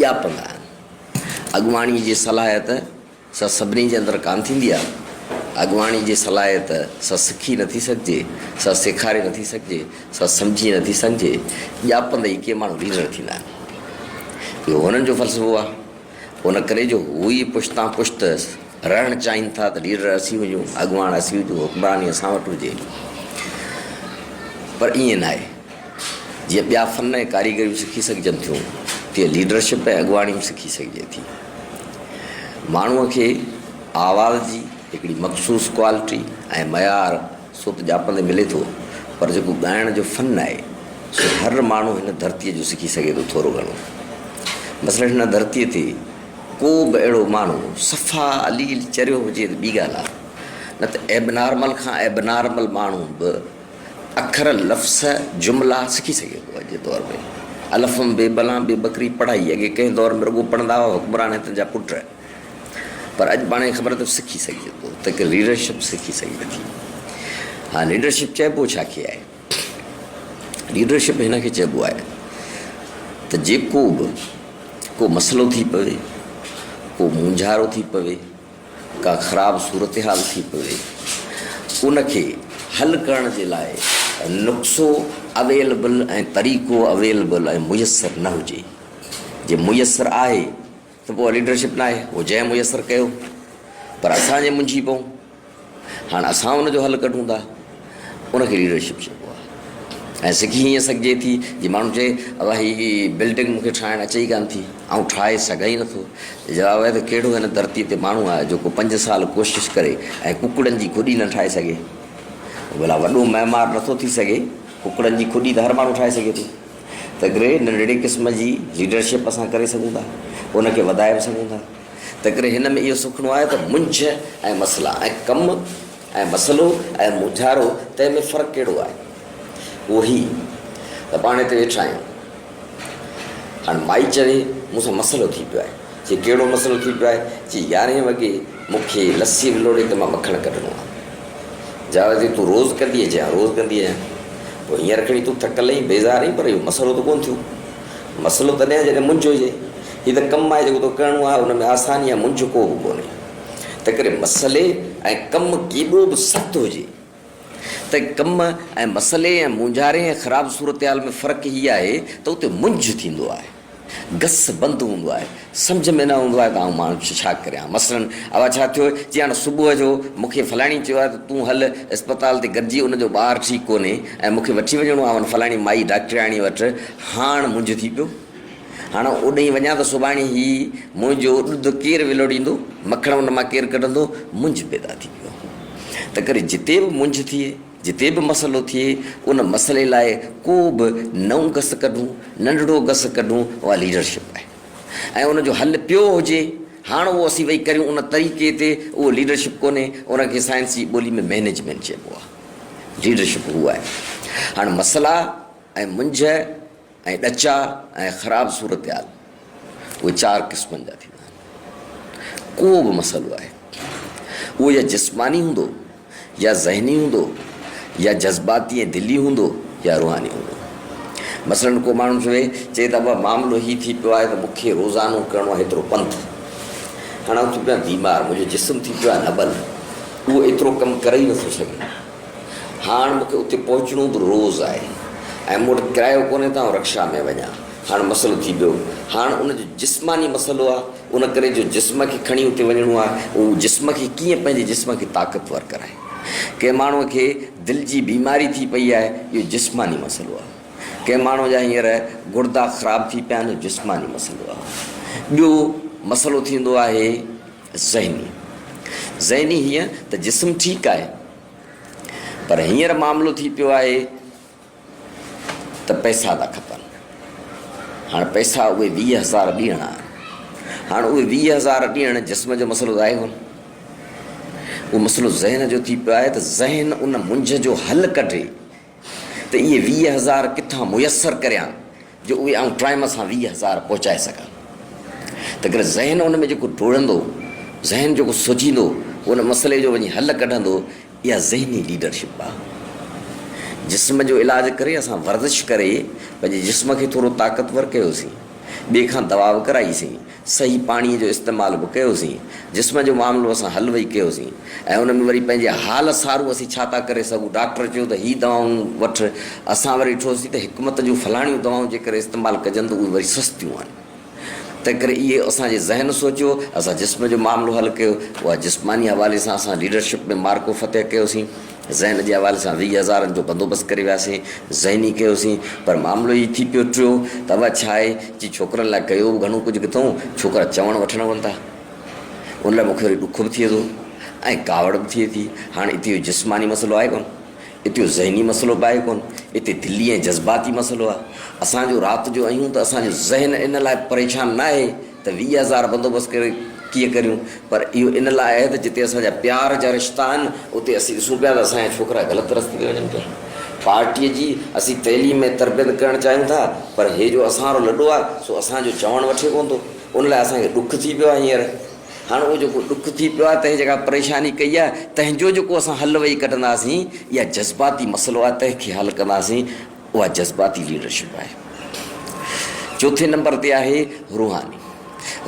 ڄاپندا آهن. اڳواڻي جي صلاحيت سا سڀني جي اندر ڪانه ٿيندي آهي. اڳواڻي جي صلاحيت سا سکي نٿي سگهجي، سا سيکاري نٿي سگهجي، سا سمجهي نٿي سگهجي. ڄاپندي ئي ڪي ماڻهو ليڊر ٿيندا آهن. اهو هنن جو فلسفو آهي. ان ڪري جو هو ئي پشتان پشت رهڻ چاهين ٿا ته ليڊر اسين هجون، اڳواڻ اسين هجون، حڪمراني اسان وٽ هجي. پر ائين ناهي. جيئن ٻيا فن ۽ ڪاريگريون سکي سگهجن ٿيون، تيئن ليڊرشپ ۽ اڳواڻي به سکي سگهجي ٿي. ماڻهوء کي آواز جي هڪڙي مخصوص ڪوالٽي ۽ معيار سو ته ڄاپندي ملي ٿو، پر جيڪو ڳائڻ جو فن آهي، سو هر ماڻهو هن ڌرتيء جو سکي سگهي ٿو ٿورو گهڻو. مثلاً هن ڌرتيء تي ڪو به اهڙو ماڻهو صفا عليل چريو هجي ته ٻي ڳالهه آهي، نه ته ائبنارمل کان ائبنارمل ماڻهو به، اکر، لفظ، جملا سکي سگهي ٿو. اڄ جي دور ۾ الف م بي بلان بي بڪري پڙهائي اڳي ڪنهن دور ۾ رڳو پڙهندا هئا حڪمران هتن جا پٽ پر اڄ پاڻ کي خبر اٿو سکي سگهجي ٿو ته ڪي ليڊرشپ سکي سگهجي ٿي ها ليڊرشپ چئبو ڇا کي آهي ليڊرشپ هن کي چئبو آهي ته جيڪو به ڪو مسئلو ٿي پوي ڪو مونجهارو ٿي پوي ڪا خراب صورتحال ٿي پوي ان کي حل ڪرڻ جي لاء نقصو اويلبل ۽ طريقو اويلبل ۽ ميسر نه هجي جي ميسر آهي ته پوء ليڊرشپ ناهي هو جنهن ميسر ڪيو پر اسان جي منجهي پئون هاڻ اسان ان جو حل ڪڍون ٿا، ان کي ليڊرشپ چئبو آهي ۽ سکي هيئن سگهجي ٿي جي ماڻهو چئي ابا هي بلڊنگ مون کي ٺاهڻ اچي ئي ڪانه ٿي، آئون ٺاهي سگهان ئي نٿو ته جواب آهي ته ڪهڙو هن ڌرتي تي ماڻهو آهي جيڪو پنج سال ڪوشش ڪري ۽ ڪڪڙن جي کڏي نه ٺاهي سگهي. ڀلا وڏو معمار نٿو ٿي سگهي، ڪڪڙن جي کڏي ته هر ماڻهو ٺاهي سگهي ٿو. تنهنڪري ننڍڙي قسم جي ليڊرشپ اسان ڪري سگهون ٿا، ان کي وڌائي به سگهون ٿا. تنهنڪري هن ۾ اهو سکڻو آهي ته منجهه ۽ مسئلا ۽ ڪم ۽ مسئلو ۽ مونجهارو تنهن ۾ فرق ڪهڙو آهي؟ اهو هي ته پاڻ هتي ويٺا آهيون. هاڻ مائي چوي مون سان مسئلو ٿي پيو آهي. چي ڪهڙو مسئلو ٿي پيو آهي؟ چي يارهين وڳي مون کي لسي ولوڙي ته مان مکڻ ڪڍڻو آهي. جاويد چي تون روز ڪندينء؟ چي ها روز ڪندي آهيان. پوء هينئر کڻي تون ٿڪل آهين، بيزار آهين پر اهو مسئلو ته ڪونه ٿيو. مسئلو تڏهن آهي جڏهن منجهه هجي. هي ته ڪم آهي جيڪو تو ڪرڻو آهي ان ۾ آساني يا منجهه ڪو به ڪونهي. تنهنڪري مسئلي ۽ ڪم ڪيڏو به سخت هجي ته ڪم ۽ مسئلي ۽ مونجهاري ۽ خراب صورتحال ۾ فرق هي آهي ته اتي منجهه ٿيندو آهي. گس بند هوندو آهي. سمجهه ۾ نه ايندو آهي ته آئون ماڻهن کي ڇا ڪريان. مثلاً اوا ڇا ٿيو جي هاڻ صبح جو مون کي فلاڻي چيو آهي ته تون هل اسپتال تي گڏجي ان جو ٻار ٺيڪ ڪونهي ۽ مون کي وٺي وڃڻو آهي ان فلاڻي مائي ڊاڪٽرياڻي وٽ هاڻ منجهه ٿي پيو هاڻ اوڏهين وڃان ته سڀاڻي هي منهنجو ڏڌ ڪير ولوڙيندو مکڻ ان مان ڪير ڪڍندو منجهه پيدا ٿي پيو تنهن ڪري جتي به منجهه ٿئي جتي به مسئلو ٿئي ان مسئلي لاء ڪو به نئون گس ڪڍون ننڍڙو گس ڪڍون اها ليڊرشپ آهي. ۽ ان جو حل پيو هجي، هاڻ اهو اسين ويهي ڪريون ان طريقي تي، اهو ليڊرشپ ڪونهي، ان کي سائنسي ٻولي ۾ مئنيجمينٽ چئبو آهي. ليڊرشپ اهو آهي. هاڻ مسئلا ۽ منجهه ۽ ڏچا ۽ خراب صورتحال اهي چار قسمن جا ٿيندا آهن. ڪو به مسئلو آهي اهو يا جسماني هوندو، يا ذهني هوندو يا جذباتي ۽ دلي هوندو يا روحاني هوندو. مثلاً ڪو ماڻهو چوي چي ته ابا معاملو هي ٿي پيو آهي ته مون کي روزانو ڪرڻو آهي ايترو پنڌ. هاڻي آئون ٿي پيو آهيان بيمار، منهنجو جسم ٿي پيو آهي نٻل، اهو ايترو ڪم ڪري ئي نٿو سگهي. هاڻ مون کي اتي پهچڻو به روز آهي ۽ مون وٽ ڪرايو ڪونهي ته آئون رڪشا ۾ وڃان. هاڻ مسئلو ٿي پيو. هاڻ ان جو جسماني مسئلو آهي. ان ڪري جو جسم کي کڻي اتي وڃڻو آهي، هو جسم کي ڪيئن پنهنجي جسم کي طاقتور ڪرائي. ڪنهن ماڻهوء کي دل جي بيماري ٿي پئي آهي، اهو جسماني مسئلو آهي. ڪنهن ماڻهوء جا هينئر گڙدا خراب ٿي پيا آهن، جسماني مسئلو آهي. ٻيو مسئلو ٿيندو آهي ذهني. ذهني هيئن ته جسم ٺيڪ آهي، پر هينئر معاملو ٿي پيو آهي، ته پئسا ٿا کپن. هاڻ پئسا اهي ويهه هزار ڏيڻا آهن. هاڻ اهي ويهه هزار ڏيڻ جسم جو مسئلو ظاهر هو نه. اهو مسئلو ذهن جو ٿي پيو آهي ته ذهن ان منجهه جو حل ڪڍي ته اهي ويهه هزار ڪٿان ميسر ڪريان. جو اهي آئون ٽائيم سان ويهه هزار پهچائي سگهان. تنهنڪري ذهن ان ۾ جيڪو ڊوڙندو، ذهن جيڪو سوچيندو، ان مسئلي جو وڃي حل ڪڍندو، اها ذهني ليڊرشپ آهي. جسم جو علاج ڪري اسان ورزش ڪري پنهنجي جسم کي ٿورو طاقتور ڪيوسين، ٻئي کان دوا وڪرائي سين، صحيح پاڻي جو استعمال به ڪيوسين، جسم جو معاملو اسان حل وئي ڪيوسين ۽ ان ۾ وري پنهنجي حال سارو اسين ڇا ٿا ڪري سگهون، ڊاڪٽر چيو ته هي دوائون وٺ، اسان وري ڏٺوسين ته حڪمت جون فلاڻيون دوائون جيڪر استعمال ڪجن ته اهي وري سستيون آهن، تنهنڪري اهي اسان جي ذهن سوچيو، اسان جسم جو معاملو حل ڪيو، اها جسماني حوالي سان اسان ليڊرشپ ۾ معرڪو فتح ڪيوسين. ذهن جي حوالي سان ويهه هزارن جو بندوبست ڪري وياسين، ذهني ڪيوسين، پر معاملو هي ٿي پيو ٽيو ته اها ڇا آهي جي ڇوڪرن لاء ڪيو به گهڻو ڪجهه ڪٿئون، ڇوڪرا چوڻ وٺڻ هئن ٿا. ان لاء مون کي وري ڏک به ٿئي ٿو ۽ ڪاوڙ به ٿئي ٿي. هاڻ اتي اهو جسماني مسئلو آهي ڪونه، اتي اهو ذهني مسئلو به آهي ڪونه، اتي دلي ۽ جذباتي مسئلو آهي. اسان جو رات جو اهيون ته اسان جو ذهن ان لاء پريشان ناهي، ته ويهه هزار بندوبست ڪري ڪيئن ڪريون؟ پر اهو ان لاء آهي ته جتي اسان جا پيار جا رشتا آهن، اتي اسين ڏسون پيا ته اسان جا ڇوڪرا غلط رستي تي وڃن پيا. پارٽيء جي اسين تعليم ۽ تربيت ڪرڻ چاهيون ٿا، پر هي جو اسان وارو لڏو آهي، سو اسان جو چوڻ وٺي ڪونه ٿو. ان لاء اسان کي ڏک ٿي پيو آهي هينئر. هاڻ اهو جيڪو ڏک ٿي پيو آهي، تنهن جيڪا پريشاني ڪئي آهي، تنهن جو جيڪو اسان حل ويهي ڪڍنداسين، اها جذباتي مسئلو آهي، تنهن کي حل ڪنداسين. اها جذباتي ليڊرشپ آهي. چوٿين نمبر تي آهي روحاني.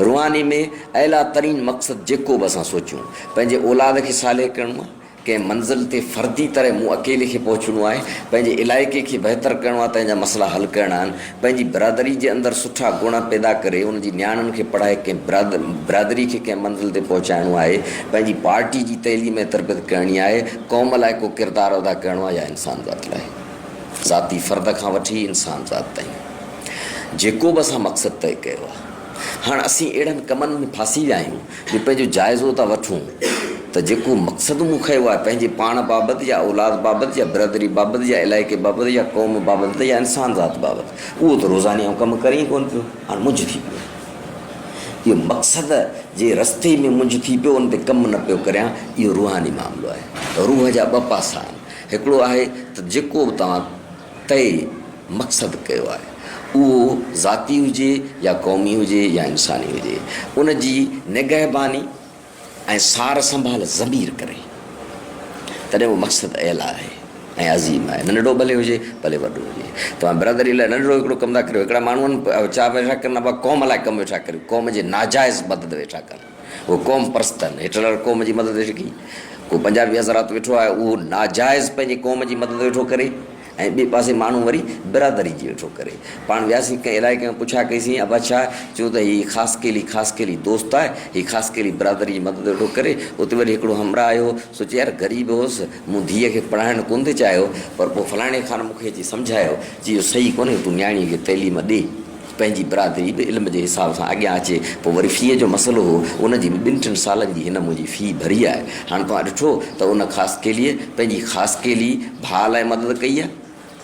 روحاني ۾ اعليٰ ترين مقصد جيڪو به اسان سوچيون، پنهنجي اولاد کي صالح ڪرڻو آهي، ڪنهن منزل تي فردي طرح مون اڪيلي کي پهچڻو آهي، پنهنجي علائقي کي بهتر ڪرڻو آهي، تنهن جا مسئلا حل ڪرڻا آهن، پنهنجي برادري جي اندر سٺا گڻ پيدا ڪري ان جي نياڻين کي پڙهائي ڪنهن برادري کي ڪنهن منزل تي پهچائڻو آهي، پنهنجي پارٽي جي تعليم ۽ تربيت ڪرڻي آهي، قوم لاء ڪو ڪردار ادا ڪرڻو آهي يا انسان ذات لاء. ذاتي فرد کان وٺي انسان ذات تائين جيڪو به اسان مقصد طئي ڪيو آهي هاڻ اسين اهڙن ڪمن ۾ ڦاسي ويا آهيون جو پنهنجو جائزو ٿا وٺون ته جيڪو مقصد مون کنيو آهي پنهنجي پاڻ بابت يا اولاد بابت يا برادري بابت يا علائقي بابت يا قوم بابت يا انسان ذات بابت اهو ته روزاني آئون ڪم ڪري ئي ڪونه پيو هاڻ منجهه ٿي پيو اهو مقصد جي رستي ۾ منجهه ٿي پيو ان تي ڪم نه پيو ڪريان اهو روحاني معاملو آهي روح جا ٻه پاسا آهن هڪڙو آهي ته جيڪو به توهان طئي مقصد ڪيو آهي اهو ذاتي هجي يا قومي هجي يا انساني هجي ان جي نگهباني ۽ سار سنڀال ضمير ڪري تڏهن اهو مقصد اعليٰ آهي ۽ عظيم آهي ننڍڙو ڀلي هجي ڀلي وڏو هجي توهان برادري لاء ننڍڙو هڪڙو ڪم ٿا ڪريو هڪڙا ماڻهون چاهه ويٺا ڪن ابا قوم لاء ڪم ويٺا ڪريو قوم جي ناجائز مدد ويٺا ڪن هو قوم پرست آهن. هٽلر قوم جي مدد هيٺ ڪئي. ڪو پنجابي حضرات ويٺو آهي اهو ناجائز پنهنجي قوم جي مدد ويٺو ڪري ۽ ٻئي پاسي ماڻهو وري برادري جي ويٺو ڪري. پاڻ وياسين ڪنهن علائقي ۾ پڇا ڪئيسين ابا ڇا؟ چيو ته هي خاصخيلي خاصخيلي دوست آهي هي خاصخيلي برادري جي مدد ويٺو ڪري. اتي وري هڪڙو همراهه آيو هو سو چي يار غريب هوس مون ڌيء کي پڙهائڻ ڪونه ٿي چاهيو پر پوء فلاڻي خان مون کي اچي سمجهايو چي اهو صحيح ڪونهي تون نياڻي کي تعليم ڏي. پنهنجي برادري به علم جي حساب سان اڳيان اچي پوء وري في جو مسئلو هو ان جي به ٻن ٽن سالن جي هن منهنجي في ڀري آهي هاڻ توهان ڏٺو ته ان خاصخيليء پنهنجي خاصخيلي ڀاء لاء مدد ڪئي آهي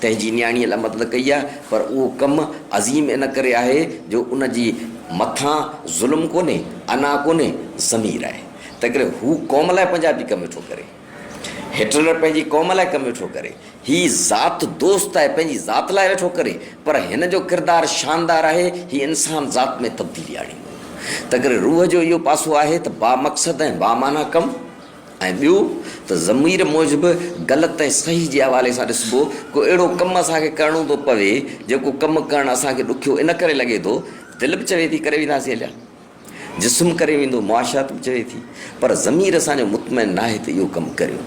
تنهنجي نياڻيء لاء مدد ڪئي آهي پر اهو ڪم عظيم ان ڪري آهي جو ان جي مٿان ظلم ڪونهي انا ڪونهي ضمير آهي تنهنڪري هو قوم لاء پنهنجا به ڪم ويٺو ڪري. هٽلر پنهنجي قوم لاء ڪم ويٺو ڪري. هي ذات دوست آهي، پنهنجي ذات لاء ويٺو ڪري. پر هن جو ڪردار شاندار آهي، هي انسان ذات ۾ تبديلي آڻيندو. تنڪري روح جو اهو پاسو آهي ته بامقصد ۽ بامعنيٰ ڪم ۽ ٻيو ته ضمير موجب غلط ۽ صحيح جي حوالي سان ڏسبو. ڪو اهڙو ڪم اسان کي ڪرڻو ٿو پوي، جيڪو ڪم ڪرڻ اسان کي ڏکيو ان ڪري لڳي ٿو، دل به چوي ٿي ڪري وينداسين اليا. جسم ڪري ويندو، معاشات به چوي ٿي، پر ضمير اسان جو مطمئن ناهي ته اهو ڪم ڪريو.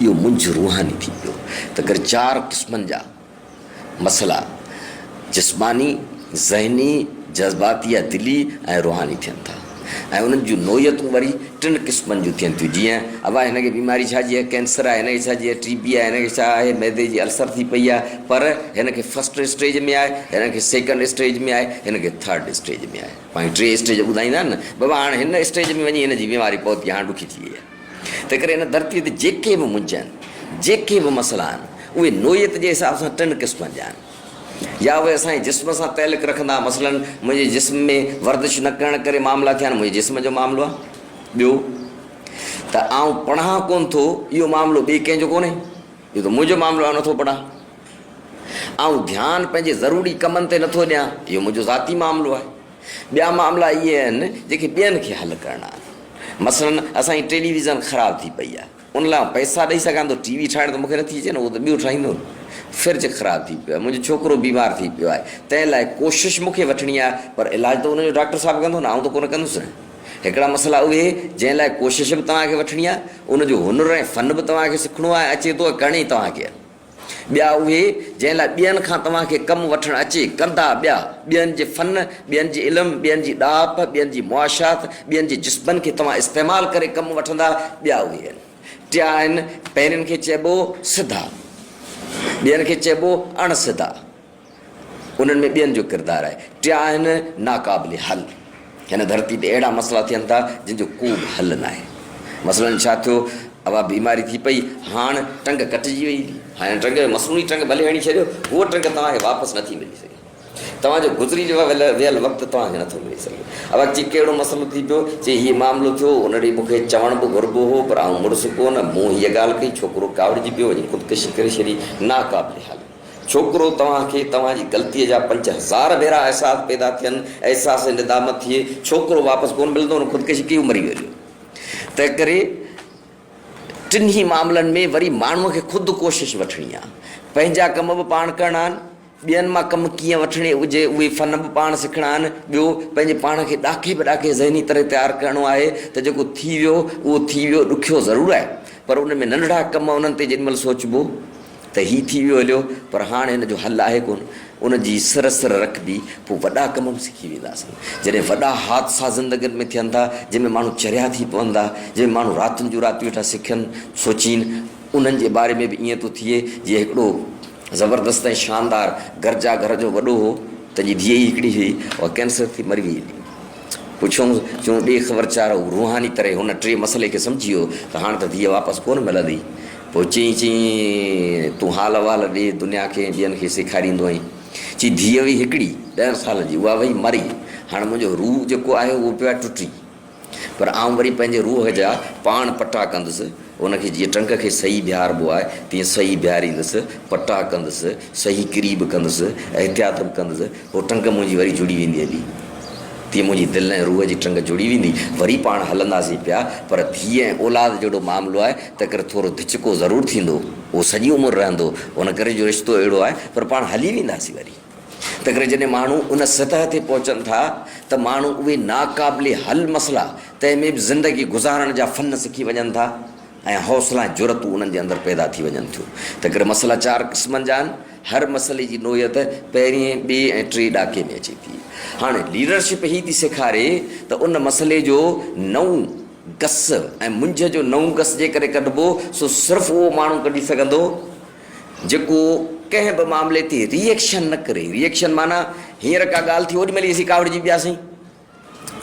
اهو منجهه روحاني ٿي پيو. ته ڪري چار قسمن جا مسئلا جسماني، ذهني، جذباتي يا دلي ۽ روحاني ٿين ٿا ۽ انهن جون نوعيتون وري ٽن قسمن جون ٿين ٿيون جيئن، ابا هن کي بيماري ڇا جي آهي، ڪينسر آهي، هن کي ڇا جي آهي، ٽي بي آهي، هن کي ڇا آهي، معدي جي السر ٿي پئي آهي، پر هن کي فرسٽ اسٽيج ۾ آهي، هن کي سيڪنڊ اسٽيج ۾ آهي، هن کي ٿرڊ اسٽيج ۾ آهي. پنهنجون ٽي اسٽيج ٻڌائيندا آهن نه بابا هاڻ هن اسٽيج ۾ وڃي هن جي بيماري پهتي هاڻ ڏکي ٿي وئي آهي تنهن ڪري هن ڌرتي تي جيڪي به منجهه آهن جيڪي به مسئلا آهن اهي نوعيت جي حساب سان ٽن قسمن جا آهن يا اهي اسان جي جسم سان تعلق رکندا مثلا منهنجي جسم ۾ ورزش نه ڪرڻ ڪري معاملا ٿيا آهن منهنجي جسم جو معاملو آهي ٻيو ته آئون پڙهان ڪونه ٿو اهو معاملو ٻئي ڪنهن جو ڪونهي اهو ته منهنجو معاملو آهي نٿو پڙهان آئون ڌيان پنهنجي ضروري ڪمن تي نٿو ڏيان، اهو منهنجو ذاتي معاملو آهي. ٻيا معاملا اهي آهن، جيڪي ٻين کي حل ڪرڻا آهن. مثلاً اسان جي ٽيلي ويزن خراب ٿي پئي آهي. ان لاء آئون پئسا ڏئي سگهان ٿو، ٽي وي ٺاهڻ ته مون کي نٿي اچي نه، اهو ته ٻيو ٺاهيندو نه. فرج خراب ٿي پيو آهي، منهنجو ڇوڪرو بيمار ٿي پيو آهي، تنهن لاء ڪوشش مون کي وٺڻي آهي، پر علاج ته ان جو ڊاڪٽر صاحب ڪندو نه، آئون ته ڪونه ڪندس نه. هڪڙا مسئلا اهي، جنهن لاء ڪوشش به توهان کي وٺڻي آهي، ان جو هنر ۽ فن به توهان کي سکڻو آهي، اچي ٿو ۽ ڪرڻي توهان کي آهي. ٻيا اهي، جنهن لاء ٻين کان توهان کي ڪم وٺڻ اچي، ڪندا ٻيا، ٻين جي فن، ٻين جي علم، ٻين جي ڏاهپ، ٻين جي معاشيات، ٻين جي جذبن کي توهان استعمال ڪري ڪم وٺندا، ٻيا اهي آهن. ٽيا آهن، پهرين کي چئبو سڌا، ٻين کي چئبو اڻ سڌا، انهن ۾ ٻين جو ڪردار آهي. ٽيا آهن ناقابل حل. هن ڌرتي تي اهڙا مسئلا ٿين ٿا، جن جو ڪوبه حل ناهي. مثلاً ڇا ٿيو، اها بيماري ٿي پئي، هاڻ ٽنگ ڪٽجي وئي. هن ٽنگ کي مصنوعي ٽنگ ڀلي هڻي ڇڏيو، هوء ٽنگ توهان کي واپس نٿي ملي سگهي. توهان جو گذري ويل وقت توهان کي نٿو ملي سگهي. اها چي ڪهڙو مسئلو ٿي پيو، چي هيء معاملو ٿيو، ان ڏي مون کي چوڻ به گهربو هو، پر آئون مڙس ڪونه. مون هيء ڳالهه ڪئي، ڇوڪرو ڪاوڙجي پيو، وڃي خودڪشي ڪري ڇڏي. ناقابل حل. ڇوڪرو توهان کي توهان جي غلطيء جا پنج هزار ڀيرا احساس پيدا ٿين، احساس ندامت ٿئي، ڇوڪرو واپس ڪونه ملندو، هن خودڪشي ڪئي هو مري ويو. تنهنڪري ٽنهي معاملن ۾ وري ماڻهوء کي خود ڪوشش وٺڻي آهي. پنهنجا ڪم به پاڻ ڪرڻا آهن، ٻين مان ڪم ڪيئن وٺڻي هجي اهي فن به پاڻ سکڻا آهن، ٻيو پنهنجي پاڻ کي ڏاکي به ڏاکي ذهني طرح تيار ڪرڻو آهي ته جيڪو ٿي ويو اهو ٿي ويو، ڏکيو ضرور آهي پر ان ۾ ننڍڙا ڪم انهن تي جيڏي مهل سوچبو، ته هي ٿي ويو هليو پر هاڻ هن جو حل آهي ڪونه. ان جي سر سر رکبي پوء وڏا ڪم به سکي وينداسين. جڏهن وڏا حادثا زندگين ۾ ٿين ٿا، جن ۾ ماڻهو چريا ٿي پون ٿا، جن ۾ ماڻهو راتن جون راتيون ويٺا سکين سوچين، انهن جي باري ۾ به ائين ٿو ٿئي جيئن هڪڙو زبردست ۽ شاندار گرجا گهر جو وڏو هو، تنهن جي ڌيء ئي هڪڙي هئي، اها ڪينسر ٿي مري ويئي هلي. پڇيومس، چون ڏي خبر چار. هو روحاني طرح هن ٽي مسئلي کي سمجهي ويو ته هاڻ ته ڌيء واپس ڪونه ملندي. پوء چيائين، چيائين، تون حال احوال ڏي دنيا کي ۽ ٻين کي سيکاريندو آهين. چي ڌيء هئي هڪڙي، ڏهن سالن جي، اها وئي مري. هاڻ منهنجو روح جيڪو آهي اهو پيو آهي ٽٽي. پر آئون وري پنهنجي روح جا پاڻ پٽا ڪندس. ان کي جيئن ٽرنڪ کي صحيح بيهاربو آهي تيئن صحيح بيهاريندس، پٽا ڪندس، صحيح ڪري به ڪندس، احتياط به ڪندس، پوء ٽرنڪ منهنجي وري جڙي ويندي هلي. تيئن منهنجي دل ۽ روح جي ٽرنڪ جڙي ويندي، وري پاڻ هلنداسين پيا، پر ڌيء ۽ اولاد جهڙو معاملو آهي، تنهنڪري ٿورو ڌچڪو ضرور ٿيندو، اهو سڄي عمر رهندو، ان ڪري جو رشتو اهڙو آهي، پر پاڻ هلي وينداسين وري. تنهنڪري جڏهن ماڻهو ان سطح تي پهچن ٿا ته ماڻهو اهي ناقابل حل مسئلا تنهن ۾ به زندگي گذارڻ جا فن سکي وڃن ٿا ۽ حوصلا ۽ جرئتون انهن جي اندر پيدا ٿي وڃن ٿيون. تنهنڪري مسئلا چار قسمن جا آهن. هر مسئلي جي نوعيت پهرئين، ٻئي ۽ ٽئين ڏاڪي ۾ اچي ٿي. هاڻي ليڊرشپ هي ٿي سيکاري ته ان مسئلي جو نئون گس ۽ منجهه جو نئون گس جيڪڏهن ڪڍبو سو صرف اهو ماڻهو ڪڍي سگهندو جيڪو ڪنهن به معاملي تي ري ايڪشن نه ڪري، ري ايڪشن معنيٰ هينئر ڪا ڳالهه ٿي اوڏيمهل ئي اسين ڪاوڙجي پياسين.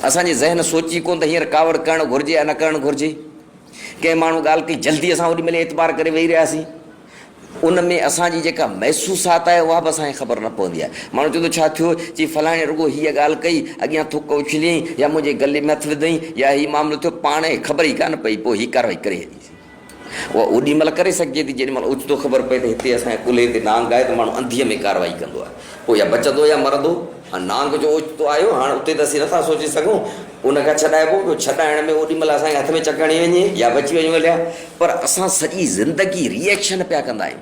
اسان جي ذهن سوچي ڪونه ته هينئر ڪاوڙ ڪرڻ گهرجي يا نه ڪرڻ گهرجي. ڪنهن ماڻهو ڳالهه ڪئي جلدي اسان اوڏيمهل ئي اعتبار ڪري ويهي رهياسين. ان ۾ اسان جي جيڪا محسوسات آهي اها به اسان کي خبر نه پوندي آهي. ماڻهو چوندو ڇا ٿيو؟ چي فلاڻي رڳو هيء ڳالهه ڪئي، اڳيان ٿڪ اڇليائين يا منهنجي گلي ۾ هٿ وڌائين يا هي معاملو ٿيو، پاڻ کي خبر ئي ڪانه پئي، پوء هي ڪارروائي ڪري ڇڏي. اها اوڏي مهل ڪري سگهجي ٿي جيڏي مهل اوچتو خبر پئي ته هتي اسان جي ڪلهي تي نانگ آهي ته ماڻهو انڌيء ۾ ڪارروائي ڪندو آهي پوء يا بچندو يا مرندو. هاڻ نانگ جو اوچتو آيو هاڻ اتي ته اسين نٿا سوچي سگهون ان کان ڇڏائبو ٻيو ڇڏائڻ ۾ اوڏي مهل اسان کي هٿ ۾ چڪ هڻي وڃي يا بچي وڃون هليا پر اسان سڄي زندگي ريئيڪشن پيا ڪندا آهيون.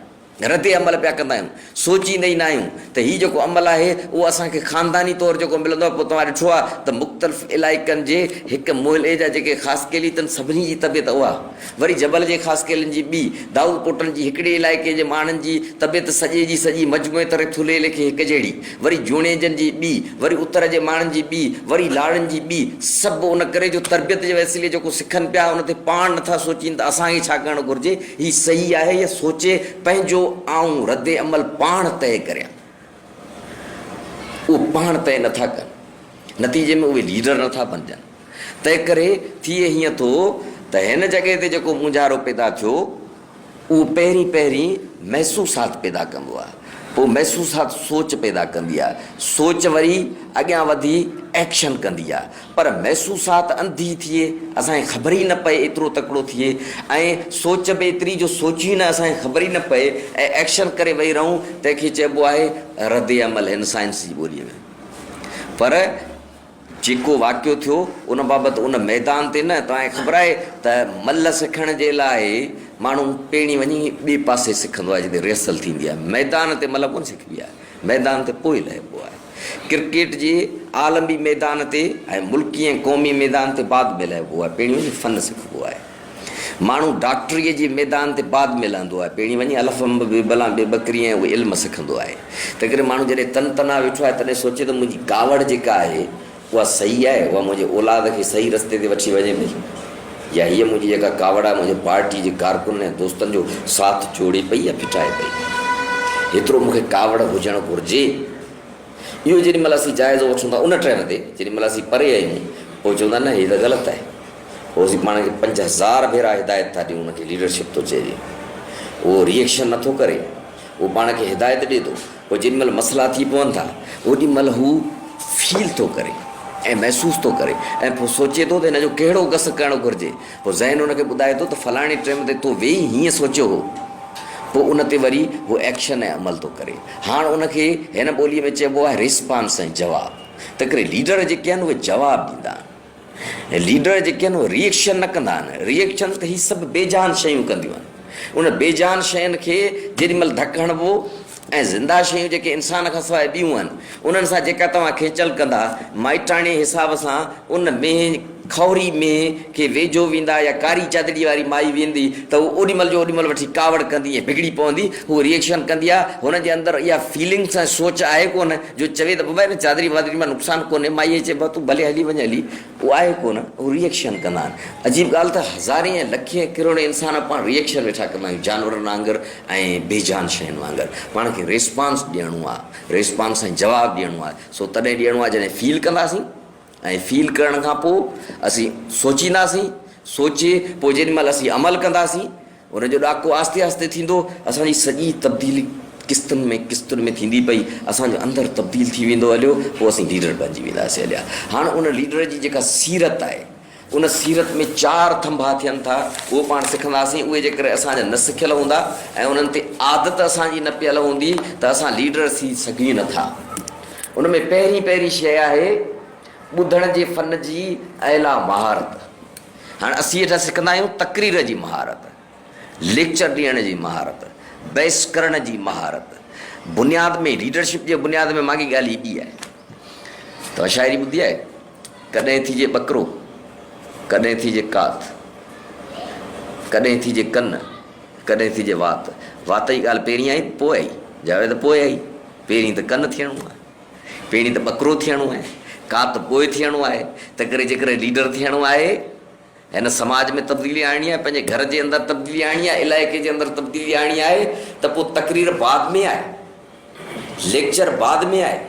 رد عمل پيا ڪندا آهيون سوچيندا ئي نه آهيون ته هي جيڪو عمل آهي اهو اسان کي خانداني طور جيڪو ملندو آهي پوء توهان ڏٺو آهي ته مختلف علائقن جي هڪ محلي جا جيڪي خاص ڪيلي تن سڀني جي طبيعت اها وري جبل جي خاص ڪيلن جي ٻي دائود پوٽن جي هڪڙي علائقي جي ماڻهن جي طبيعت سڄي جي سڄي مجموعي طرح ٿلهي ليکي هڪجهڙي وري جوڻيجن جي ٻي، وري اتر جي ماڻهن جي ٻي، وري لاڙن جي ٻي، سڀ ان ڪري جو تربيت جي وسيلي جيڪو سکن پيا ان تي پاڻ نٿا سوچين ته اسان کي ڇا ڪرڻ گهرجي، هي صحيح آهي يا سوچي پنهنجو آئون رد عمل پاڻ طئي ڪريان اهو پاڻ طئي نٿا ڪن نتيجي ۾ اهي ليڊر نٿا بنجن تنهن ڪري ٿئي هيئن ٿو ته هن جڳهه تي جيڪو مونجهارو پيدا ٿيو اهو پهرين پهرين محسوسات پيدا ڪندو آهي، پوء محسوسات سوچ پيدا ڪندي آهي، سوچ وري اڳيان وڌي ايڪشن ڪندي آهي، پر محسوسات انڌي ٿئي، اسان کي خبر ئي نه پئي ايترو تڪڙو ٿئي ۽ سوچ به ايتري جو سوچيون نه اسان کي خبر ئي نه پئي ۽ ايڪشن ڪري ويهي رهون، تنهن کي چئبو آهي ردعمل هن سائنس جي ٻوليء ۾ پر. جيڪو واقعو ٿيو ان بابت ان ميدان تي نه توهان کي خبر آهي ته ملهه سکڻ جي لاء ماڻهو پيڻي وڃي ٻي پاسي سکندو آهي جتي ريهرسل ٿيندي آهي ميدان تي ملهه ڪونه سکبي آهي ميدان تي پوء لهبو آهي ڪرڪيٽ جي عالمي ميدان تي ۽ ملڪي ۽ قومي ميدان تي بعد ۾ لهبو آهي پيڻي وڃي فن سکبو آهي. ماڻهو ڊاڪٽريء جي ميدان تي بعد ۾ لهندو آهي، پهرين وڃي الف انب، بي بلان بي بڪري ۽ اهو علم سکندو آهي. تنهنڪري ماڻهو جڏهن تن تنها ويٺو آهي، تڏهن سوچي ته منهنجي ڪاوڙ جيڪا آهي، اها صحيح آهي، اها منهنجي اولاد کي صحيح رستي تي وٺي وڃي پئي يا هيء منهنجي جيڪا ڪاوڙ آهي، منهنجي پارٽيء جي ڪارڪنن ۽ دوستن جو ساٿ جوڙي پئي يا ڦٽائي پئي؟ هيترو مون کي ڪاوڙ هجڻ گهرجي. اهو جيڏي مهل اسين جائزو وٺون ٿا ان ٽرين تي، جيڏي مهل اسين پري آهيون، پوء چون ٿا نه هيء ته غلط آهي. روزي پاڻ کي پنج هزار ڀيرا هدايت ٿا ڏيون ان کي ليڊرشپ ٿو چئجي اهو ري ايڪشن نٿو ڪري اهو پاڻ کي هدايت ڏي ٿو پوء جيڏي مهل مسئلا ٿي پون ٿا اوڏي مهل هو فيل ٿو ڪري ۽ محسوس ٿو ڪري ۽ پوء سوچي ٿو ته هن جو ڪهڙو گس ڪرڻ گهرجي پوء ذهن ان کي ٻڌائي ٿو ته فلاڻي ٽيم تي تو ويهي هيئن سوچيو هو پوء ان تي وري هو ايڪشن ۽ عمل ٿو ڪري هاڻ ان کي هن ٻولي ۾ چئبو آهي ريسپانس ۽ جواب تنهنڪري ليڊر جيڪي آهن اهي جواب ڏيندا آهن ليڊر جيڪي آهن اهي ريئڪشن نه ڪندا آهن، ريئڪشن ته هي سڀ بي جان شيون ڪنديون آهن. انهن بي جان شين کي جيڏي مهل ڌڪ هڻبو ۽ زنده شيون جيڪي انسان کان سواء ٻيون آهن انهن سان جيڪا توهان کيچل ڪندا، مائٽاڻي حساب سان ان مينهن کهوري مينهن کي ويجهو ويندا يا ڪاري چادڙي واري مائي ويندي ته هو اوڏي مهل جو اوڏي مهل وٺي ڪاوڙ ڪندي ۽ بگڙي پوندي، هوء ريئڪشن ڪندي آهي، هن جي اندر اها فيلنگس ۽ سوچ آهي ڪونه. جو چوي ته ببا ان چادري وادري مان نقصان ڪونهي، مائيء کي چئبو آهي تون ڀلي هلي وڃ هلي، هو آهي ڪونه، هو ري ايڪشن ڪندا آهن. عجيب ڳالهه ته هزارين ۽ لکين ڪروڙين انسان پاڻ ري ايڪشن ويٺا ڪندا آهيون جانورن وانگر ۽ بي جان شين وانگر. پاڻ کي ريسپانس ڏيڻو آهي، ريسپانس ۽ جواب ڏيڻو آهي، سو تڏهن ڏيڻو آهي جڏهن فيل ڪنداسين. ائين فيل ڪرڻ کان پوء اسين سوچينداسين، سوچي پوء جيڏي مهل اسين عمل ڪنداسين، ان جو ڏاڪو آهستي آهستي ٿيندو، اسان جي سڄي تبديلي قسطن ۾ قسطن ۾ ٿيندي پئي، اسان جو اندر تبديل ٿي ويندو هليو، پوء اسين ليڊر بڻجي وينداسين هليا. هاڻ ان ليڊر جي جيڪا سيرت آهي، ان سيرت ۾ چار ٿنڀا ٿين ٿا، اهو پاڻ سکنداسين، اهي جيڪڏهن اسان جا نه سکيل هوندا ۽ انهن تي عادت اسان جي نه پيل هوندي ته اسان ليڊر ٿي سگهون ئي نه ٿا. ان ۾ پهرين پهرين شيء آهي ٻڌڻ جي فن جي اعليٰ مهارت. هاڻ اسين هيٺان سکندا آهيون تقرير جي مهارت. ليڪچر ڏيڻ جي مهارت، بحث ڪرڻ جي مهارت بنياد ۾ ليڊرشپ جي بنياد ۾ ماڳي ڳالهه ايڏي آهي. توهان شاعري ٻڌي آهي؟ ڪڏهن ٿيجي ٻڪرو، ڪڏهن ٿيجي ڪات، ڪڏهن ٿيجي ڪن، ڪڏهن ٿيجي وات. وات جي ڳالهه پهرين آئي ته پوء آئي؟ جاويد ته پوء آئي. پهرين ته ڪن ٿيڻو آهي. پهرين ته ٻڪرو ٿيڻو آهي. ڪات پوء ٿيڻو آهي. تنهنڪري جيڪڏهن ليڊر ٿيڻو آهي. هن سماج ۾ تبديلي آڻڻي آهي، پنهنجي گهر جي اندر تبديلي آڻڻي آهي، علائقي جي اندر تبديلي آڻڻي آهي ته پوء تقرير بعد ۾ آهي، ليڪچر بعد ۾ آهي،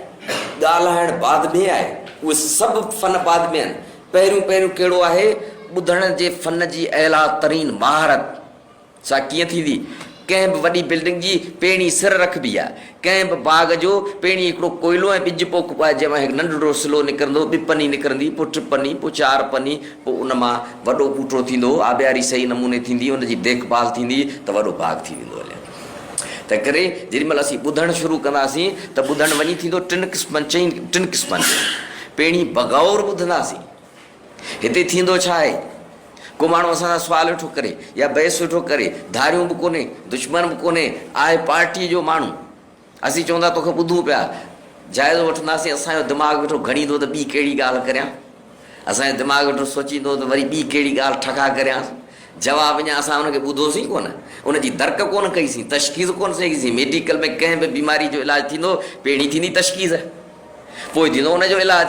ڳالهائڻ بعد ۾ آهي، اهي سڀ فن بعد ۾ آهن، پهريون پهريون ڪهڙو آهي، ٻڌڻ جي فن جي اعليٰ ترين مهارت. سا ڪيئن ٿيندي؟ ڪنهن به وڏي بلڊنگ جي پيڻي سر رک به يا ڪنهن به باغ جو پيڻي هڪڙو ڪوئلو ۽ ٻج پوک به آهي جنهن مان هڪ ننڍڙو سلو نڪرندو، ٻه پني نڪرندي، پوء ٽه پني، پوء چار پني، پوء ان مان وڏو ٻوٽو ٿيندو، آبياري صحيح نموني ٿيندي، ان جي ديک ڀال ٿيندي ته وڏو باغ ٿي ويندو هلي. تنهنڪري جيڏي مهل اسين ٻڌڻ شروع ڪنداسين ته ٻڌڻ وڃي ٿيندو ٽن قسمن چئن ٽن قسمن جو پيڻي بغور ٻڌنداسين. هتي ٿيندو ڇا آهي؟ ڪو ماڻهو اسان سان سوال ويٺو ڪري يا بحث ويٺو ڪري، ڌاريون به ڪونهي، دشمن به ڪونهي، آهي پارٽيء جو ماڻهو. اسين چون ٿا توکي ٻڌون پيا، جائزو وٺنداسين، اسان جو دماغ ويٺو گهڙيندو ته ٻي ڪهڙي ڳالهه ڪريان، اسان جو دماغ ويٺو سوچيندو ته وري ٻي ڪهڙي ڳالهه ٺڪا ڪريانس. جواب اڃا اسان ان کي ٻڌو سين ڪونه، ان جي درڪ ڪونه ڪئي سين، تشخيص ڪونه سين ڪئي سين. ميڊيڪل ۾ ڪنهن به بيماريء جو علاج ٿيندو، پهرين ٿيندي تشخيص، پوء ٿيندو ان جو علاج.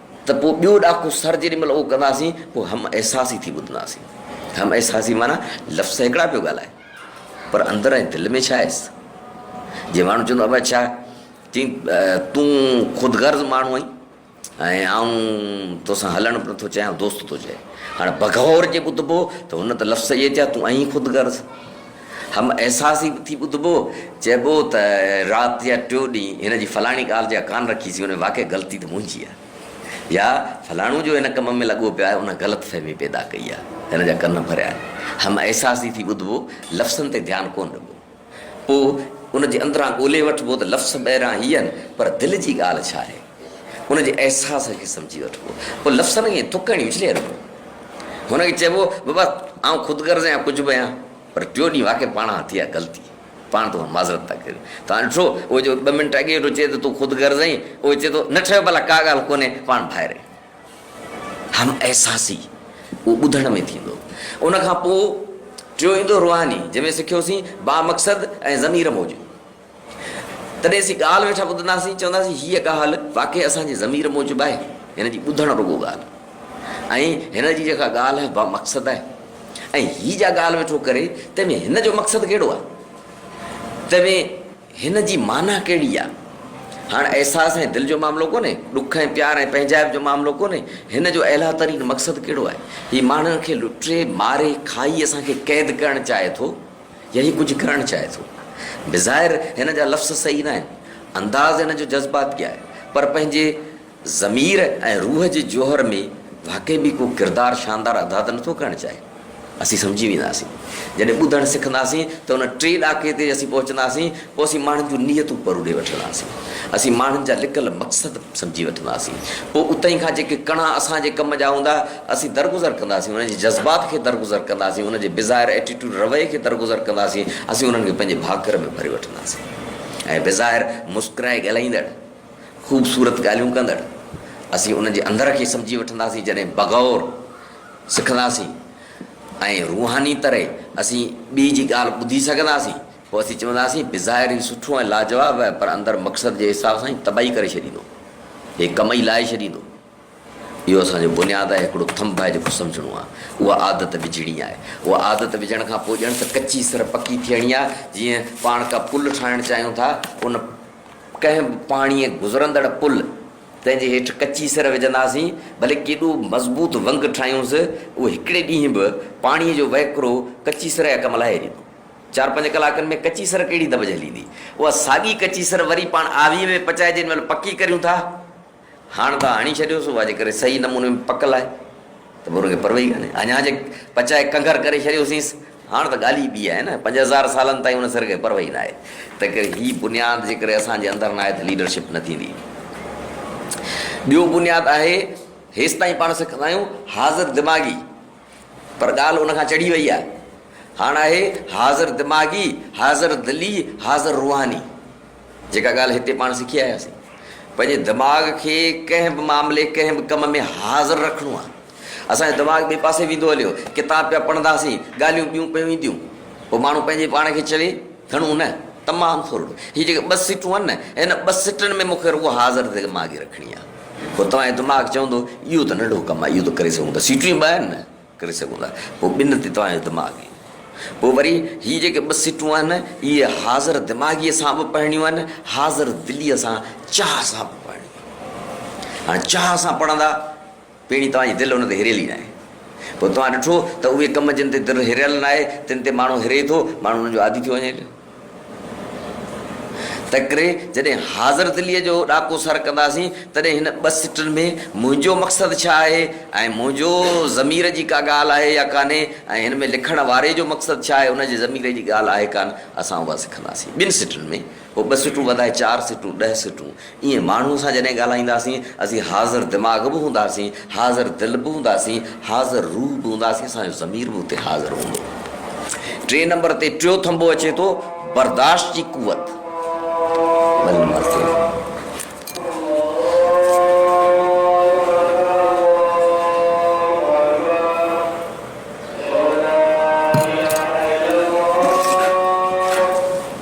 ته پوء ٻيو ڏاڪو سر جيڏي مھل اھو ڪنداسين پوء ھم احساسي ٿي ٻڌنداسين. ھم احساسي معنيٰ لفظ ته ھڪڙا پيو ڳالھائي پر اندر ۽ دل ۾ ڇا ھيس. جي ماڻھو چوندو ابا ڇا چين تون خود غرض ماڻھو آھين ۽ آئون تو سان ھلڻ به نٿو چاھيان دوست ٿو چئي. ھاڻي بغور جي ٻڌبو ته ھن ته لفظ اھي چيا تون آھين خود غرض هم احساس ئي ٿي ٻڌبو، چئبو ته رات جا ٽيو ڏينهن هن جي فلاڻي ڳالهه جا ڪان رکي سين، ان ۾ واقعي غلطي ته منهنجي آهي يا فلاڻو جو هن ڪم ۾ لڳو پيو آهي ان غلط فهمي پيدا ڪئي آهي، هن جا ڪن ڀريا آهن. هم احساس ئي ٿي ٻڌبو، لفظن تي ڌيان ڪونه ڏبو. پوء ان جي اندران ڳولي وٺبو ته لفظ ٻاهران هي آهن پر دل جي ڳالهه ڇا آهي؟ ان جي احساس کي سمجهي وٺبو. پوء لفظن کي ٿڪ هڻي اڇلي رکبو. هن کي چئبو، بابا، آئون خود غرض آهيان ڪجهه به آهيان، پر ٽيون ڏينهن واقعي پاڻ کان ٿي آ غلطي. پاڻ تو کان معذرت ٿا ڪريون. توهان ڏٺو، اهو جو ٻه منٽ اڳي ويٺو چئي ته تون خود غرض آهين، اهو چئي ٿو، نه ٺهيو ڀلا ڪا ڳالهه ڪونهي، پاڻ ڀائر آهيون. هم احساسي اهو ٻڌڻ ۾ ٿيندو. ان کان پوء ٽيون ايندو روحاني، جنهن ۾ سکيوسين، بامقصد ۽ ضمير موجب. تڏهن اسين ڳالهه ويٺا ٻڌنداسين، چونداسين هيء ڳالهه واقعي اسان جي ضمير موجب آهي، هن جي ٻڌڻ رڳو ڳالهه ۽ هن جي جيڪا ڳالهه با مقصد آهي ۽ هي جا ڳالهه ويٺو ڪري تنهن ۾ هن جو مقصد ڪهڙو آهي، تنهن ۾ هن جي معنيٰ ڪهڙي آهي. هاڻ احساس ۽ دل جو معاملو ڪونهي، ڏک ۽ پيار ۽ پنهنجائپ جو معاملو ڪونهي، هن جو اعليٰ ترين مقصد ڪهڙو آهي. هي ماڻهن کي لٽي، ماري، کائي اسان کي قيد ڪرڻ چاهي ٿو، يا هي ڪجهه ڪرڻ چاهي ٿو. بظاهر هن جا لفظ صحيح ناهن، انداز هن جو جذباتي آهي، پر پنهنجي ضمير ۽ روح جي جوهر ۾ واقعي به ڪو ڪردار شاندار ادا ته نٿو ڪرڻ چاهي. اسين سمجهي وينداسين. جڏهن ٻڌڻ سکنداسين ته ان ٽئين ڏاڪي تي اسين پهچنداسين، پوء اسين ماڻهن جون نيتون پروڙي وٺنداسين، اسين ماڻهن جا لڪل مقصد سمجهي وٺنداسين، پوء اتهين کان جيڪي ڪڻا اسان جي ڪم جا هوندا، اسين درگذر ڪنداسين، انهن جي جذبات کي درگذر ڪنداسين، انهن جي بظاهر ائٽيٽوڊ رويي کي درگذر ڪنداسين، اسين انهن کي پنهنجي ڀاڪر ۾ ڀري وٺنداسين ۽ بظاهر مسڪرائي ڳالهائيندڙ، خوبصورت ڳالهيون ڪندڙ، اسين انهن جي اندر کي سمجهي وٺنداسين، جڏهن بغور سکنداسين ۽ روحاني طرح اسين ٻئي جي ڳالهه ٻڌي سگهنداسين، پوء اسين چونداسين، بظاهر هي سٺو ۽ لاجواب آهي، پر اندر مقصد جي حساب سان هي تباهي ڪري ڇڏيندو. هي ڪم ئي لاهي ڇڏيندو. اهو اسان جو بنياد آهي، هڪڙو ٿنڀ آهي جيڪو سمجهڻو آهي. اها عادت وجهڻي آهي. اها عادت وجهڻ کان پوء ڄڻ ته ڪچي سر پڪي ٿيڻي آهي. جيئن پاڻ ڪا پل ٺاهڻ چاهيون ٿا، ان ڪنهن به پاڻيء گذرندڙ پل، تنهن جي هيٺ ڪچي سر وجهنداسين، ڀلي ڪيڏو مضبوط ونگ ٺاهيونس، اهو هڪڙي ڏينهن به پاڻيء جو وهڪرو ڪچي سر جا ڪم لاهي ڏيندو. چار پنج ڪلاڪن ۾ ڪچي سر ڪهڙي دٻ جهليندي؟ اها ساڳي ڪچي سر وري پاڻ آويء ۾ پچائي جنهن مهل پڪي ڪريون ٿا. هاڻ ته هڻي ڇڏيوس، اها جيڪڏهن صحيح نموني ۾ پڪل آهي ته پوء ان کي پرواهي ڪانهي. اڃا جي پچائي ڪنگهر ڪري ڇڏيوسينس، هاڻ ته ڳالهه ئي ٻي آهي نه. پنج هزار سالن تائين ان سر کي پرواهي ناهي. تنهنڪري هي بنياد جيڪڏهن اسان جي اندر ناهي ته ليڊرشپ نه ٿيندي. ٻيو بنياد آهي، هيستائين پاڻ سکندا آهيون حاضر دماغي. پر ڳالهه ان کان چڙهي وئي آهي. هاڻ آهي حاضر دماغي، حاضر دلي، حاضر روحاني. جيڪا ڳالهه هتي پاڻ سکي آياسين. پنهنجي دماغ کي ڪنهن به معاملي، ڪنهن به ڪم ۾ حاضر رکڻو آهي. اسان جو دماغ ٻئي پاسي ويندو هليو. ڪتاب پيا پڙهنداسين، ڳالهيون ٻيون پيون اينديون. پوء ماڻهو پنهنجي پاڻ کي چوي، هڻون نه؟ تمام ٿورڙو. هي جيڪي ٻه سٽون آهن نه، هن ٻه سٽن ۾ مون کي رڳو حاضر دماغي رکڻي آهي. پوء توهان جو دماغ چوندو اهو ته ننڍو ڪم آهي، اهو ته ڪري سگهون ٿا، سيٽون ئي ٻه آهن نه، ڪري سگهون ٿا. پوء ٻن تي توهان جو دماغ ايندو. پوء وري هي جيڪي ٻه سيٽون آهن، اهي حاضر دماغيء سان به پڙهڻيون آهن، حاضر دليء سان، چاهه سان به پڙهڻيون آهن. هاڻي چاهه سان پڙهندا، پيڻي توهان جي دل ان تي هريل ئي ناهي. پوء توهان ڏٺو ته اهي ڪم جن تي دل هريل ناهي، تن تي ماڻهو هري ٿو، ماڻهو انهن جو عادي ٿيو وڃي ٿو. تنهنڪري جڏهن حاضر دليء جو ڏاڪو سر ڪنداسين، تڏهن هن ٻه سٽن ۾ منهنجو مقصد ڇا آهي ۽ منهنجو ضمير جي ڪا ڳالهه آهي يا ڪانهي ۽ هن ۾ لکڻ واري جو مقصد ڇا آهي، ان جي ضمير جي ڳالهه آهي ڪانه، اسان اها سکنداسين. ٻن سٽن ۾، پوء ٻه سٽون وڌائي چار سٽون، ڏهه سٽون. ايئن ماڻهوء سان جڏهن ڳالهائينداسين، اسين حاضر دماغ به هونداسين، حاضر دل به هونداسين، حاضر روح به هونداسين، اسان جو ضمير به اتي حاضر هوندو. ٽئين نمبر تي ٽيون ٿنڀو اچي ٿو، برداشت جي قوت.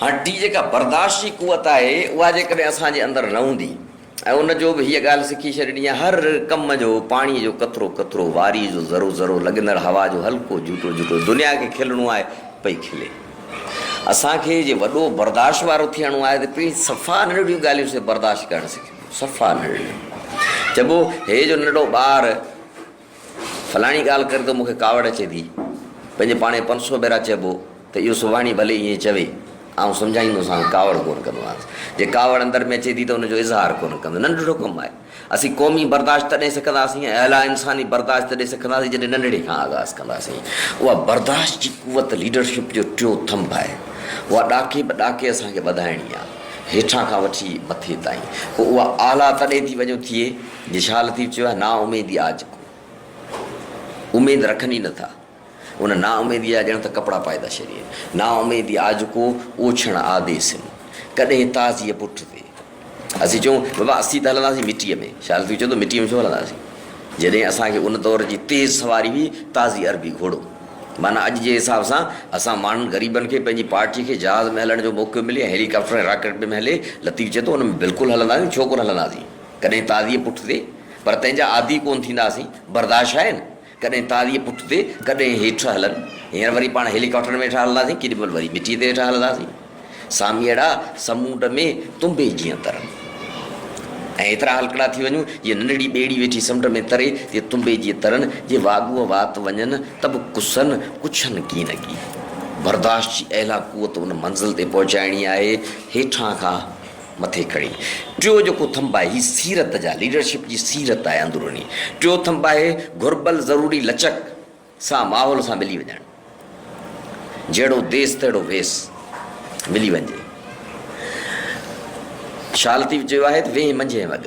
هاڻ جي جيڪا برداشت جي قوت آهي، اها جيڪڏهن اسان جي اندر نه هوندي ۽ ان جو به هيء ڳالهه سکي ڇڏڻي آهي، هر ڪم جو پاڻيء جو قطرو قطرو، واريء جو ذرو ذرو، لڳندڙ هوا جو هلڪو جهوٽو جهوٽو، دنيا کي کلڻو آهي، پئي کلي. اسان کي جي وڏو برداشت وارو ٿيڻو آهي ته پهرين صفا ننڍڙيون ڳالهيون سي برداشت ڪرڻ سکبيون، صفا ننڍڙيون. چئبو هي جو ننڍڙو ٻار، فلاڻي ڳالهه ڪري ته مون کي ڪاوڙ اچي ٿي. پنهنجي پاڻ کي پنسو بيرا چئبو ته اهو سڀاڻي ڀلي ائين چوي، آئون سمجهائيندوسانس، ڪاوڙ ڪونه ڪندومانس. جي ڪاوڙ اندر ۾ اچي ٿي ته ان جو اظهار ڪونه ڪندو. ننڍڙو ڪم آهي. اسين قومي برداشت تڏهن سکنداسين ۽ اعليٰ انساني برداشت تڏهن سکنداسين جڏهن ننڍڙي کان آغاز ڪنداسين. اها برداشت جي قوت ليڊرشپ جو ٽيون ٿنڀ آهي. اها ڏاڪي به ڏاڪي اسان کي وڌائڻي آهي. هيٺان کان وٺي مٿي تائين. پوء اها اعليٰ تڏهن ٿي وڃو ٿئي جي شاهه لطيف چيو آهي، نااميدي آ جڪو اميد رکن ئي نٿا، ان نااميديء جا ڄڻ ته ڪپڙا پائي ٿا شرين. نااميدي آ جڪو اوڇڻ آ دي سن، ڪڏهن تازيء پٺ تي. اسين چئون، بابا اسين ته هلنداسين مٽيء ۾. شاهه لطيف چئي ٿو، مٽيء ۾ ڇو هلنداسين؟ جڏهن اسان کي ان دور جي تيز سواري هئي تازي عربي گهوڙو. معنيٰ اڄ جي حساب سان اسان ماڻهن غريبن کي پنهنجي پارٽيء کي جهاز ۾ هلڻ جو موقعو ملي ۽ هيلي ڪاپٽر ۽ راڪيٽ ۾ هلي. لطيف چئي ٿو، ان ۾ بلڪل هلنداسين، ڇو ڪونه هلنداسين؟ ڪڏهن تازيء پٺ تي، پر تنهن جا عادي ڪونه ٿينداسين، برداشت آهي نه؟ ڪڏهن تازيء پٺ تي، ڪڏهن هيٺ هلن. هينئر وري پاڻ هيلي ڪاپٽر ۾ هيٺان هلنداسين، ڪيڏي مهل وري مٽيء تي هيٺان هلنداسين. ساميئڙا سمونڊ ۾ تنبي جيان ترن. ۽ ايترا هلڪڙا ٿي وڃون، جيئن ننڍڙي ٻيڙي ويٺي سمنڊ ۾ تري، تيئن تنبي جيئن ترن، جي واڳوء وات وڃن ته به ڪسن ڪڇن ڪين اڳي. برداشت جي اعليٰ قوت ان منزل تي پهچائڻي آهي، هيٺان کان. مٿي کڻي. ٽيون جيڪو ٿنڀ آهي هي سيرت جا ليڊرشپ جي سيرت آهي اندروني. ٽيون ٿنڀ آهي گهربل ضروري لچڪ سان ماحول سان ملي وڃڻ. جهڙو ديس تهڙو ويس ملي وڃجي. شال ٿي چيو آهي ته ويهين منجهين وڳ.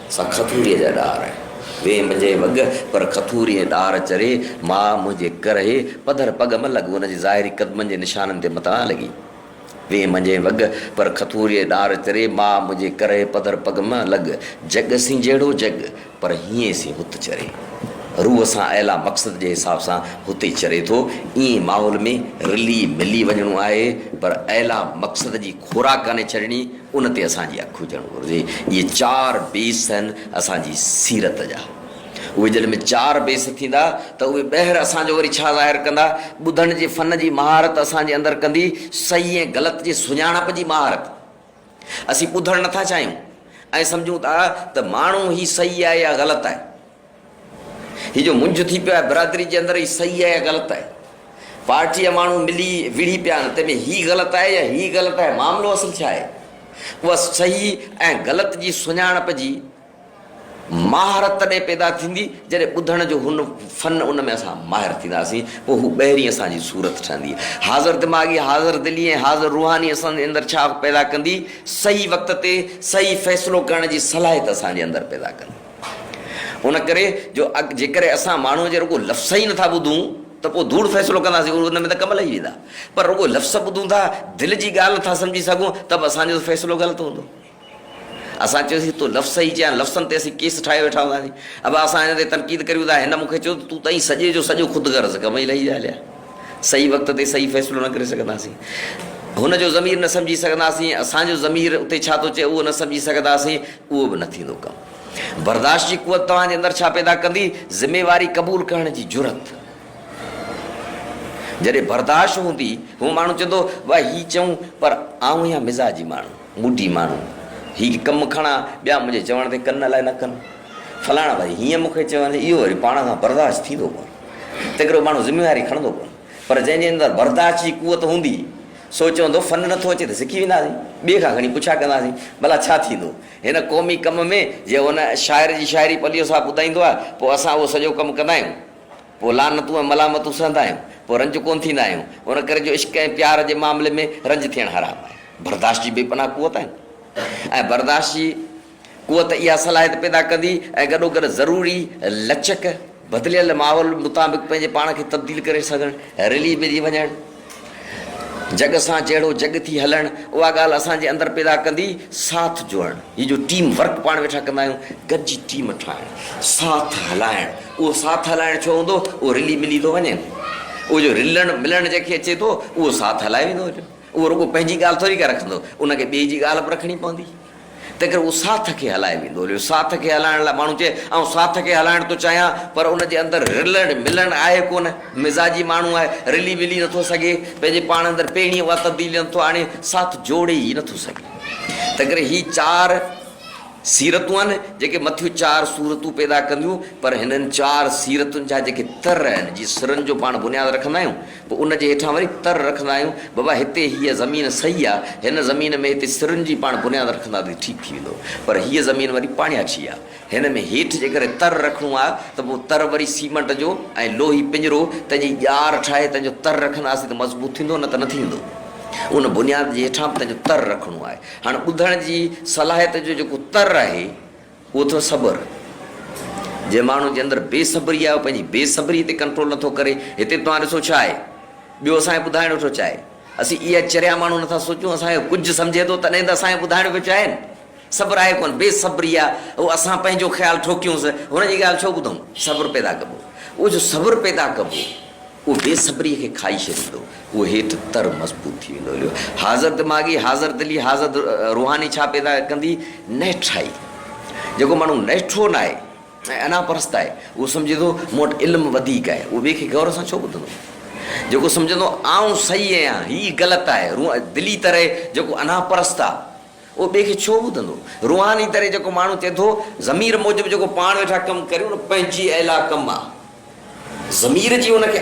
سا کٿوريء جا ڏار آهن. ويهه منجهي وڳ پر کٿوريء ڏار چري، ماء منهنجي ڪرهي پڌر پڳ م لڳ ان جي ظاهري قدمن جي نشانن تي متان لڳي. ويهه منجهي وڳ پر کٿوريء ڏار چري، ماء منهنجي ڪرهي پڌر پڳ م لڳ. جڳ سين جهڙو جڳ پر هينئين سين هت چري. روح سان اعليٰ مقصد جي حساب سان هت ئي چري ٿو. ايئن ماحول ۾ رلي ملي وڃڻو آهي پر اعليٰ مقصد جي خوراڪ ڪانهي ڇڏڻي. ان تي اسان جي اک هجڻ گهرجي. اهي چار بيس آهن اسان جي سيرت جا. اهي جڏهن به چار بيس ٿيندا ته اهي ٻهر اسان جو وري ڇا ظاهر ڪندا؟ ٻڌڻ جي فن جي مهارت اسان جي اندر ڪندي، صحيح ۽ غلط جي سڃاڻپ جي مهارت. اسين ٻڌڻ نٿا چاهيون ۽ سمجهون ٿا ته ماڻهو هي صحيح آهي يا غلط آهي. هي جو منجهه ٿي پيو آهي برادري جي اندر هي صحيح آهي يا غلط آهي پارٽي جا ماڻهو ملي وڙهي پيا آهن تنهن ۾ هي غلط آهي يا هي غلط آهي معاملو اصل ڇا آهي اها صحيح ۽ غلط جي سڃاڻپ جي مهارت تڏهن پيدا ٿيندي جڏهن ٻڌڻ جو هن فن ان ۾ اسان ماهر ٿينداسين پوء هو ٻهرين اسان جي صورت ٺهندي حاضر دماغي حاضر دلي ۽ حاضر روحاني اسان جي اندر ڇا پيدا ڪندي صحيح وقت تي صحيح فيصلو ڪرڻ جي صلاحيت اسان جي اندر پيدا ڪندي ان ڪري جو جيڪڏهن اسان ماڻهوء جي رڳو لفظ ئي نٿا ٻڌون ته پوء ڌوڙ فيصلو ڪنداسين، ان ۾ ته ڪم لهي ويندا. پر رڳو لفظ ٻڌون ٿا، دل جي ڳالهه نٿا سمجهي سگهون ته به اسان جو فيصلو غلط هوندو. اسان چيوسين تون لفظ ئي چيان، لفظن تي اسين ڪيس ٺاهي ويٺا هونداسين. ابا اسان هن تي تنقيد ڪريون ته هن مون کي چيو ته تون ته ائين سڄي جو سڄو خود غرض ڪم ئي لهي ويا هليا. صحيح وقت تي صحيح فيصلو نه ڪري سگهنداسين. هن جو ضمير نه سمجهي سگهنداسين. اسان جو ضمير اتي ڇا ٿو چئي اهو نه سمجهي سگهنداسين. اهو به نه ٿيندو ڪم. برداشت جي قوت توهان جي اندر ڇا پيدا ڪندي؟ ذميواري قبول ڪرڻ جي جرئت. جڏهن برداشت هوندي، هو ماڻهو چوندو، واء هي چئون پر آئون اها مزاجي ماڻهو، موڊي ماڻهو. هي ڪم کڻان، ٻيا منهنجي چوڻ تي ڪن الائي نه ڪن. فلاڻا وري هيئن مون کي چوين، اهو وري پاڻ کان برداشت ٿيندو ڪونه. تڪڙو ماڻهو ذميواري کڻندو ڪونه پر جنهن جي اندر برداشت جي قوت هوندي سو چوندو فن نٿو اچي ته سکي وينداسين ٻئي کان کڻي پڇا ڪنداسين ڀلا ڇا ٿيندو هن قومي ڪم ۾ جي هن شاعر جي شاعري پليو صاحب ٻڌائيندو آهي پوء اسان اهو سڄو ڪم ڪندا آهيون پوء لعنتون ۽ ملامتون سهندا آهيون پوء رنج ڪونه ٿيندا آهيون ان ڪري جو عشق ۽ پيار جي معاملي ۾ رنج ٿيڻ حرام آهي برداشت جي بي پناهه قوت آهي ۽ برداشت جي قوت اها صلاحيت پيدا ڪندي ۽ گڏوگڏ ضروري لچڪ، بدليل ماحول مطابق پنهنجي پاڻ کي تبديل ڪري سگهڻ، رلي ملي وڃڻ، جڳ سان جهڙو جڳ ٿي هلڻ، اها ڳالهه اسان جي اندر پيدا ڪندي ساٿ جوڙڻ، هي جو ٽيم ورڪ پاڻ ويٺا ڪندا آهيون، گڏجي ٽيم ٺاهڻ، ساٿ هلائڻ، اهو ساٿ هلائڻ ڇو هوندو؟ اهو رلي ملي ٿو وڃي نه، اهو جو رلڻ ملڻ جنهن کي اچي ٿو، اهو ساٿ هلائي ويندو، اهو رڳو پنهنجي ڳالهه ٿوري ڪا رکندو، ان کي ٻئي جي ڳالهه به رکڻي پوندي، تنهنڪري اهو ساٿ کي هلائي ويندو. ليو، ساٿ کي هلائڻ لاء ماڻهو چئي، آئون ساٿ کي هلائڻ ٿو چاهيان، پر ان جي اندر رلڻ ملڻ آهي ڪونه. مزاجي ماڻهو آهي، رلي ملي نٿو سگهي، پنهنجي پاڻ اندر پهرين اها تبديلي نٿو آڻي، ساٿ جوڙي ئي نٿو سگهي. تنهنڪري هي چار سيرتون آهن، جيڪي مٿيون چار صورتون پيدا ڪنديون، پر هنن چار سيرتن جا جيڪي تر آهن، جي سرن جو پاڻ بنياد رکندا آهيون، پوء ان جي هيٺان وري تر رکندا آهيون، بابا هتي هيء زمين صحيح آ، هن زمين ۾ هتي سرن جي پاڻ بنياد رکندا ته ٺيڪ ٿي ويندو، پر هيء زمين وري پاڻياٺي آ، هن ۾ هيٺ جيڪڏهن تر رکڻو آ ته پوء تر وري سيمنٽ جو ۽ لوهي پڃرو تنهن جي ڄار ٺاهي تنهن جو تر رکنداسين ته مضبوط ٿيندو نه ته نه ٿيندو. ان بنياد جي هيٺان به تنهن جو تر رکڻو آهي. هاڻ ٻڌڻ جي صلاحيت جو جيڪو تر آهي. اهو اٿو صبر، جنهن ماڻهو جي اندر بي صبري آهي اهو پنهنجي بي صبري تي ڪنٽرول نٿو ڪري، هتي توهان ڏسو ڇا آهي، ٻيو اسان کي ٻڌائڻ ويٺو چاهي، اسين اها چريا ماڻهو نٿا سوچون، اسان کي ڪجهه سمجهي ٿو تڏهن ته اسان کي ٻڌائڻ پيو چاهي نه، صبر آهي ڪونه، بي صبري آهي، اهو اسان پنهنجو خيال ٺوڪيونس، هن جي ڳالهه ڇو ٻڌون، صبر پيدا ڪبو، اهو جو صبر پيدا ڪبو. اهو بي صبريء کي کائي ڇڏيندو. اهو هيٺ تر مضبوط ٿي ويندو. اهو حاضر دماغي، حاضر دلي، حاضر روحاني ڇا پيدا ڪندي؟ نهٺائي. جيڪو ماڻهو نهٺو ناهي ۽ انا پرست آهي، اهو سمجهي ٿو، مون وٽ علم وڌيڪ آهي. اهو ٻئي کي غور سان ڇو ٻڌندو؟ جيڪو سمجهندو، آئون صحيح آهيان، هيء غلط آهي. روح دلي تري، جيڪو انا پرست آهي. اهو ٻئي کي ڇو ٻڌندو؟ روحاني طرح جيڪو ماڻهو چئي ٿو، ضمير موجب جيڪو پاڻ ويٺا ڪم ڪريون نه پنهنجي اعليٰ ڪم آ. ضمير جي ان کي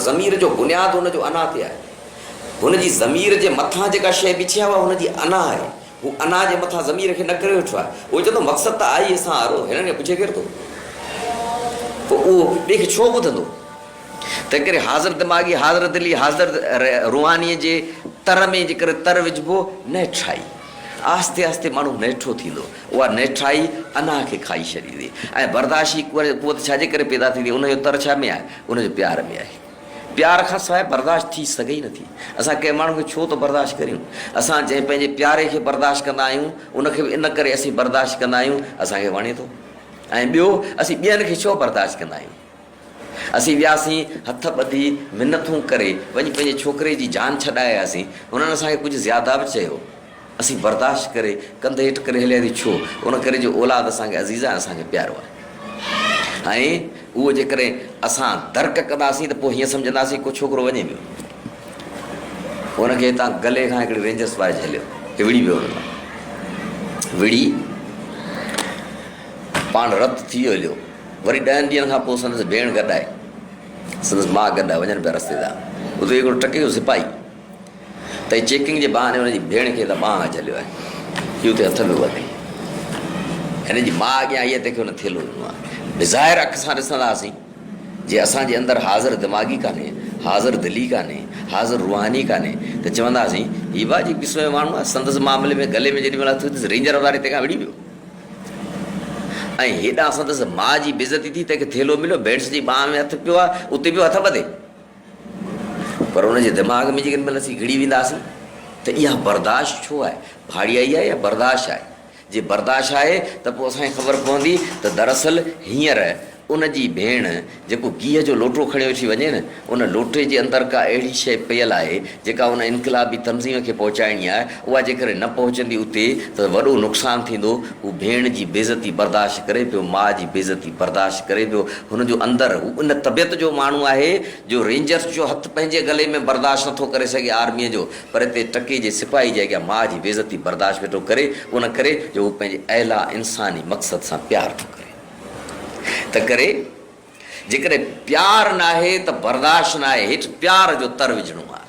ضمير جو بنياد ان جو انا تي آهي. هن جي ضمير جي مٿان جيڪا شيء بيٺي آهي اها هن جي انا آهي. هو انا جي مٿان ضمير کي نه ڪري ويٺو آهي. اهو چئي ٿو مقصد ته آهي اسان وارو، هنن کي پڇي ڪير ٿو؟ پوء اهو ٻئي کي ڇو ٻڌندو؟ تنهنڪري حاضر دماغي، حاضر دلي، حاضر روحانيء جي تر ۾ جيڪر تر وجهبو، نهٺائي. آهستي آهستي ماڻهو نهٺو ٿيندو. اها نهٺائي اناهه کي کائي ڇڏيندي ۽ برداشي قوت ڇا جي ڪري پيدا ٿيندي؟ ان جو تر ڇا ۾ آهي؟ ان جو پيار ۾ آهي. پيار کان سواء برداشت ٿي سگهي ئي نٿي. اسان ڪنهن ماڻهو کي ڇو ٿو برداشت ڪريون؟ اسان جنهن پنهنجي پياري کي برداشت ڪندا آهيون، ان کي به ان ڪري اسين برداشت ڪندا آهيون، اسان کي وڻي ٿو ۽ ٻيو اسين ٻين کي ڇو برداشت ڪندا آهيون؟ اسين وياسين، هٿ ٻڌي، منٿون ڪري، وڃي پنهنجي ڇوڪري جي جان ڇڏائي آياسين. هنن اسان کي ڪجهه زياده به چيو. اسين برداشت ڪري، ڪنڌ هيٺ ڪري هلياسين. ڇو؟ ان ڪري جو اولاد اسان کي عزيز آهي، اسان کي پيارو آهي. ۽ اهو جيڪڏهن اسان درڪ ڪنداسين ته پوء هيئن سمجهنداسين ڪو ڇوڪرو وڃي ويو. ان کي هتان گلي کان هڪڙي رينجرس وائي جهليو ۽ وڙهي ويو ان کان. وڙهي پاڻ رت ٿي ويو هليو. وري ڏهن ڏينهن کان پوء سندس ڀيڻ گڏ آئي. سندس ماء گڏ آئي. وڃن پيا رستي تان. اتي هڪڙو ٽڪي جو سپاهي تئي چيڪنگ جي بهاني هن جي ڀيڻ کي لٻانء ۾ جهليو آهي. هي اتي هٿ ۾ وڌي. هن جي ماء اڳيان آئي آهي تنهن کي هن ٿيلهو ڏنو آهي. بظاهر اک سان ڏسنداسين جي اسان جي اندر حاضر دماغي ڪانهي، حاضر دلي ڪانهي، حاضر روحاني ڪانهي ته چونداسين هي ڀاء جي قسم جو ماڻهو آهي. سندس معاملي ۾ گلي ۾ جيڏي مهل هٿ وڌيس رينجر واري تنهن کان وڙهي ويو. ۽ هيڏانهن سندس ماء جي بيعزتي ٿي، تنهن کي ٿيلهو مليو، ڀيڻس جي ٻانهن ۾ هٿ پيو آهي، اتي پيو هٿ ٻڌي. پر ان جي دماغ ۾ جيڪڏهن مل اسين گهڙي وينداسين ته اها برداشت ڇو آهي، ڀاڙيائي آهي يا برداشت آهي؟ جي برداشت آهي ته پوء اسان کي خبر پوندي ته دراصل هينئر ان جي ڀيڻ جيڪو گيهه جو لوٽو کڻي اٿي وڃي نه، ان لوٽي جي اندر ڪا اهڙي شيء پيل آهي، جيڪا ان انقلابي تنظيم کي پهچائڻي آهي، اها جيڪڏهن نه پهچندي اتي ته وڏو نقصان ٿيندو. هو ڀيڻ جي بيعزتي برداشت ڪري پيو، ماء جي بيعزتي برداشت ڪري پيو. هن جو اندر، هو ان طبيعت جو ماڻهو آهي، جو رينجرز جو هٿ پنهنجي گلي ۾ برداشت نٿو ڪري سگهي آرميء جو، پر اتي ٽڪي جي سپاهي جي اڳيان ماء جي بيعزتي برداشت ويٺو ڪري، ان ڪري جو هو پنهنجي اعليٰ انساني مقصد سان پيار ٿو ڪري. تنهنڪري جيڪڏهن پيار ناهي ته برداشت ناهي هيٺ پيار جو تر وجهڻو آهي.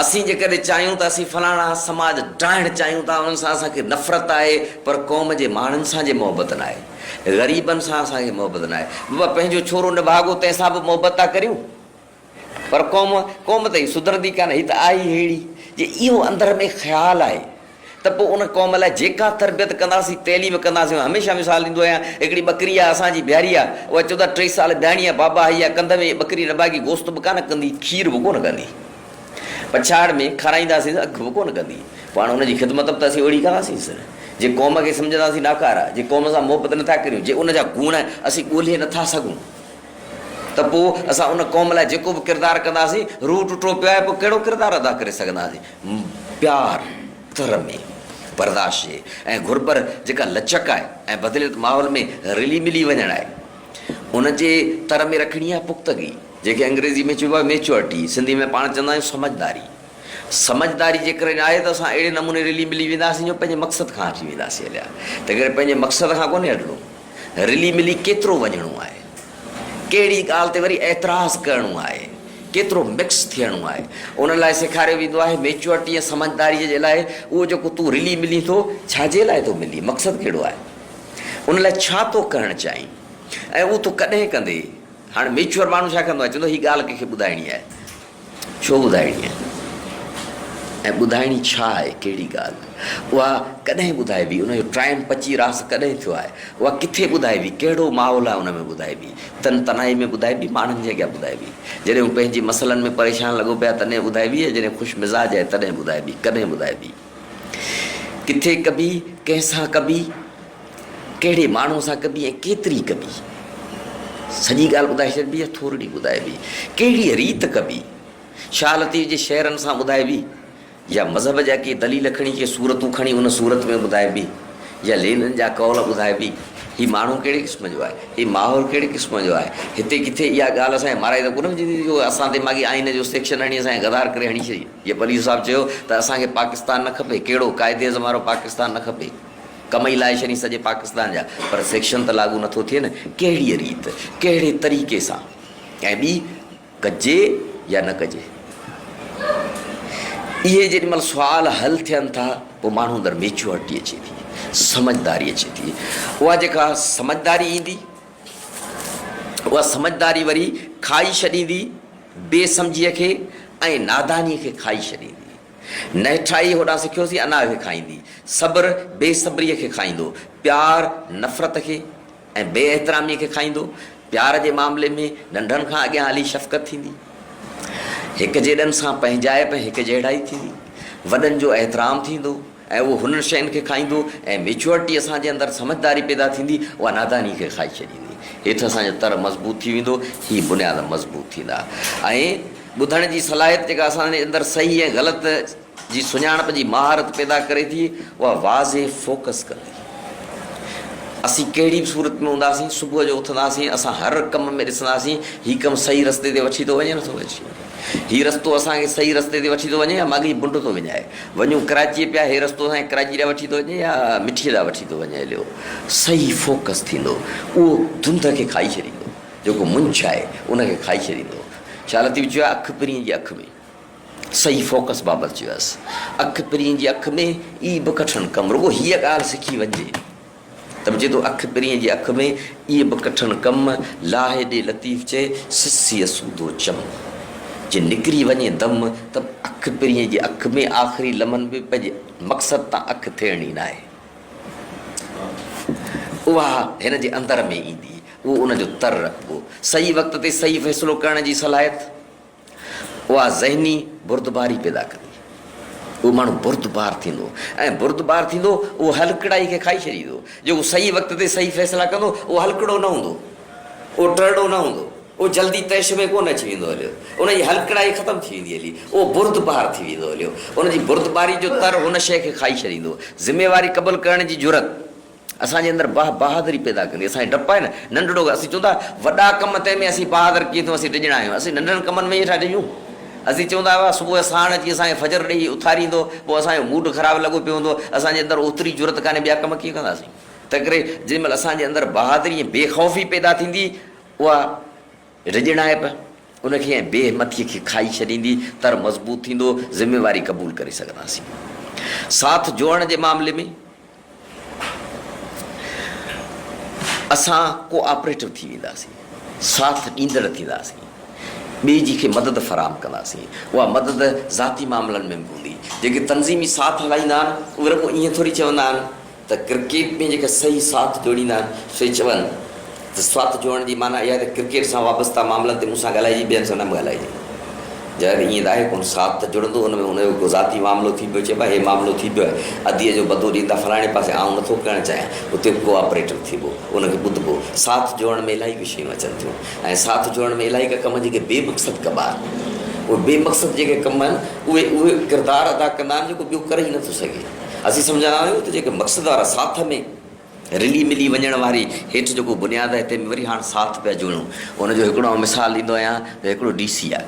اسين جيڪڏهن چاهيون ته اسين فلاڻا سماج ڊاهڻ چاهيون ٿا انهن سان اسان کي نفرت آهي پر قوم جي ماڻهن سان جي محبت ناهي غريبن سان اسان کي محبت ناهي بابا پنهنجو ڇورو نڀاڳو تنهن سان به محبت ٿا ڪريون. پر قوم قوم ته هي سڌرندي ڪانه هي ته آهي ئي ههڙي جي اهو اندر ۾ خيال آهي ته پوء ان قوم لاء جيڪا تربيت ڪنداسين تعليم ڪنداسين هميشه مثال ڏيندو آهيان هڪڙي ٻڪري آهي اسان جي بيهاري آهي اها چودا ٽي سال بيهاڻي آهي بابا هي اها ڪنڌ ۾ ٻڪري نه ڀاڳي گوشت به ڪانه ڪندي کير به ڪونه ڪندي پڇاڙ ۾ کارائينداسين اک به ڪونه ڪندي پوء هاڻ ان جي خدمت به ته اسين اهڙي ڪنداسينس جي قوم کي سمجهنداسين ناڪاره جي قوم سان محبت نٿا ڪريون جي ان جا گوڻ اسين ڳولهي نٿا سگهون ته پوء اسان ان قوم لاء جيڪو به ڪردار ڪنداسين، روح ٽٽو پيو آهي، پوء ڪهڙو ڪردار ادا ڪري سگهنداسين؟ پيار، ترمي، برداشت ۽ گهر پر جيڪا لچڪ آهي ۽ بدليل ماحول ۾ رلي ملي وڃڻ آهي، ان جي تر ۾ رکڻي آهي پختگي، جنهن کي انگريزي ۾ چئبو آهي Maturity، سنڌي ۾ پاڻ چوندا آهيون سمجهداري. سمجهداري جيڪڏهن آهي ته اسان اهڙي نموني رلي ملي وينداسين جو پنهنجي مقصد کان هٽي وينداسين هليا، تنهنڪري پنهنجي مقصد کان ڪونهي هٽڻو. رلي ملي ڪيترو وڃڻو آهي، ڪهڙي ڳالهه تي وري اعتراض ڪرڻو آهي، ڪيترو مڪس ٿيڻو آهي، انهن لاء سيکاريو ويندو آهي. ميچوئرٽي ۽ سمجهداريء جي لاء اهو جيڪو تون رلي ملين ٿو، ڇا جي لاء ٿو ملين، مقصد ڪهڙو آهي، ان لاء ڇا ٿو ڪرڻ چاهين ۽ اهو تون ڪڏهن ڪندين؟ هاڻ ميچوئر ماڻهو ڇا ڪندو آهي؟ چوندو آهي هي ڳالهه ڪنهن کي ٻڌائڻي آهي، ڇو ٻڌائڻي آهي ۽ ٻڌائڻي ڇا آهي، ڪهڙي ڳالهه، اها ڪڏهن ٻڌائبي، ان جو ٽائيم پچي راس ڪڏهن ٿيو آهي، اها ڪٿي ٻڌائبي، ڪهڙو ماحول آهي ان ۾ ٻڌائبي، تن تنهائي ۾ ٻڌائبي، ماڻهن جي اڳيان ٻڌائبي، جڏهن هو پنهنجي مسئلن ۾ پريشان لڳو پئي آهي تڏهن ٻڌائبي ۽ جڏهن خوش مزاج آهي تڏهن ٻڌائبي، ڪڏهن ٻڌائبي، ڪٿي ڪبي، ڪنهن سان ڪبي؟ ڪهڙي ماڻهوء سان ڪبي ۽ ڪيتري ڪبي؟ سڄي ڳالهه ٻڌائي ڇڏبي يا ٿورڙي ٻڌائبي؟ ڪهڙيء ريت ڪبي؟ شاهه لطيف جي شعرن سان ٻڌائبي يا مذهب جا ڪي دليل کڻي ڪي صورتون کڻي ان صورت ۾ ٻڌائبي يا لينن جا قول ٻڌائبي؟ هي ماڻهو ڪهڙي قسم جو آهي؟ هي ماحول ڪهڙي قسم جو آهي؟ هتي ڪٿي اها ڳالهه اسان جي مارائي ته ڪونه وجهندي ته جو اسان دماغي آئيني جو سيڪشن هڻي اسان کي غدار ڪري هڻي ڇڏي؟ جيئن پليجو صاحب چيو ته اسان کي پاڪستان نه کپي، ڪهڙو قائد اعظم وارو پاڪستان نه کپي؟ ڪم ئي لائي ڇڏين سڄي پاڪستان جا پر سيڪشن ته لاڳو نٿو ٿئي نه ڪهڙيء ريت ڪهڙي طريقي سان ۽ ٻي ڪجي يا نه ڪجي اهي جيڏي مهل سوال حل ٿين ٿا پوء ماڻهو اندر ميچوئرٽي اچي ٿي سمجھداري اچي ٿي اها جيڪا سمجھداري ايندي اها سمجھداري وري کائي ڇڏيندي بي سمجھيء کي ۽ نادانيء کي کائي ڇڏيندي نهٺائي هوڏانهن سکيوسين انا کي کائيندي، صبر بي صبريء کي کائيندو، پيار نفرت کي ۽ بي احتراميء کي کائيندو، پيار جي معاملي ۾ ننڍن کان اڳيان هلي شفقت ٿيندي، هڪجيڏن سان پنهنجائپ ۽ هڪجهڙائي ٿيندي، وڏن جو احترام ٿيندو، ۽ اهو هنن شين کي کائيندو ۽ ميچوئرٽي اسان جي اندر سمجهداري پيدا ٿيندي اها ناداني کي کائي ڇڏيندي هيٺ اسان جو تر مضبوط ٿي ويندو هي بنياد مضبوط ٿيندا ۽ ٻڌڻ جي صلاحيت جيڪا اسان جي اندر صحيح ۽ غلط جي سڃاڻپ جي مهارت پيدا ڪري ٿي اها واضح فوڪس ڪندي اسين ڪهڙي به صورت ۾ هونداسين صبح جو اٿنداسين اسان هر ڪم ۾ ڏسنداسين هي ڪم صحيح رستي تي وٺي ٿو وڃي نه ٿو وڃي هي رستو اسان کي صحيح رستي تي وٺي ٿو وڃي يا ماڳهين بنڊ ٿو وڃائي. وڃون ڪراچيء پيا، هي رستو اسان کي ڪراچيء ڏانهن وٺي ٿو وڃي يا مٺيء ڏانهن وٺي ٿو وڃي عليو صحيح فوڪس ٿيندو اهو ڌنڌ کي کائي ڇڏيندو جيڪو منجهه آهي ان کي کائي ڇڏيندو شاهه لطيف چيو آهي اک پرينء جي اک ۾. صحيح فوڪس بابت چيو آهيس اک پرينء جي اک ۾ ئي به ڪٺڻ ڪم رڳو هيء ڳالهه سکي وڃجي. ته به چئي ٿو اک پرينء جي اک ۾، ايء به ڪٺڻ ڪم، لاهي ڏي لطيف چئي، سسيء سودو چم. جي نڪري وڃي دم، ته به اک پرينء جي اک ۾، آخري لمحن ۾ پنهنجي مقصد تان اک ڦيرڻي ناهي. اها هن جي اندر ۾ ايندي، اهو ان جو تر رکبو. صحيح وقت تي صحيح فيصلو ڪرڻ جي صلاحيت. اها ذهني بردباري پيدا ڪندي. اهو ماڻهو بردبار ٿيندو ۽ بردبار ٿيندو اهو هلڪڙائي کي کائي ڇڏيندو. جيڪو صحيح وقت تي صحيح فيصلا ڪندو اهو هلڪڙو نه هوندو. اهو ٽرڙو نه هوندو. اهو جلدي طيش ۾ ڪونه اچي ويندو هليو. ان جي هلڪڙائي ختم ٿي ويندي هلي. اهو بردبار ٿي ويندو هليو. ان جي بردباري جو تر هن شيء کي کائي ڇڏيندو. ذميواري قبول ڪرڻ جي جرئت. اسان جي اندر بهه بهادري پيدا ڪندي اسان جي ڊپ آهي نه ننڍڙو ڪم اسين چون ٿا وڏا ڪم تنهن ۾ اسين بهادر ڪيئن ٿيون اسين ڊڄڻا آهيون اسين ننڍڙن ڪمن ۾ ئي ٿا ڊڄون اسين چون ٿا صبح ساڻ اچي اسان کي فجر ڏيئي اٿاريندو پوء اسان جو موڊ خراب لڳو پيو هوندو اسان جي اندر اوتري جرئت ڪانهي ٻيا ڪم ڪيئن ڪنداسين تنهن ڪري جنهن مهل اسان جي اندر بهادري ۽ بي خوفي پيدا ٿيندي اها ڊڄڻائپ ان کي ۽ بي همٿي کي کائي ڇڏيندي تر مضبوط ٿيندو ذميواري قبول ڪري سگهنداسين ساٿ جوڙڻ جي معاملي ۾ اسان ڪو آپريٽو ٿي وينداسين، ساٿ ڏيندڙ ٿينداسين، ٻئي جي کي مدد فراهم ڪنداسين، اها مدد ذاتي معاملن ۾ به هوندي، جيڪي تنظيمي ساٿ هلائيندا آهن اهي رڳو ائين ٿوري چوندا آهن ته ڪرڪيٽ ۾ جيڪي صحيح ساٿ جوڙيندا آهن سي چون. ته سوات جوڙڻ جي معنيٰ اها ته ڪرڪيٽ سان وابسته معاملن تي مون سان ڳالهائجي ٻين سان نه به ڳالهائجي. جڏهن ته ائين ته آهي ڪونه، سوات ته جڙندو ان ۾ ان جو ڪو ذاتي معاملو ٿي پيو چئبو آهي، هي معاملو ٿي پيو آهي، اديء جو بدو ڏيندا فلاڻي پاسي آئون نٿو ڪرڻ چاهيان، اتي به ڪو آپريٽر ٿيبو، ان کي ٻڌبو، ساٿ جوڙڻ ۾ الائي ڪي شيون اچن ٿيون ۽ ساٿ جوڙڻ ۾ الائي ڪا ڪم جيڪي بي مقصد ڪبا آهن، اهي بي مقصد جيڪي ڪم آهن اهي اهو ڪردار ادا ڪندا آهن جيڪو ٻيو ڪري ئي نٿو سگهي، اسين سمجهندا آهيون ته جيڪي مقصد وارا ساٿ ۾. رلي ملي وڃڻ واري هيٺ جيڪو بنياد آهي تنهن ۾ وري هاڻ ساٿ پيا جوڙيون. ان جو هڪڙو آئون مثال ڏيندو آهيان ته هڪڙو ڊي سي آهي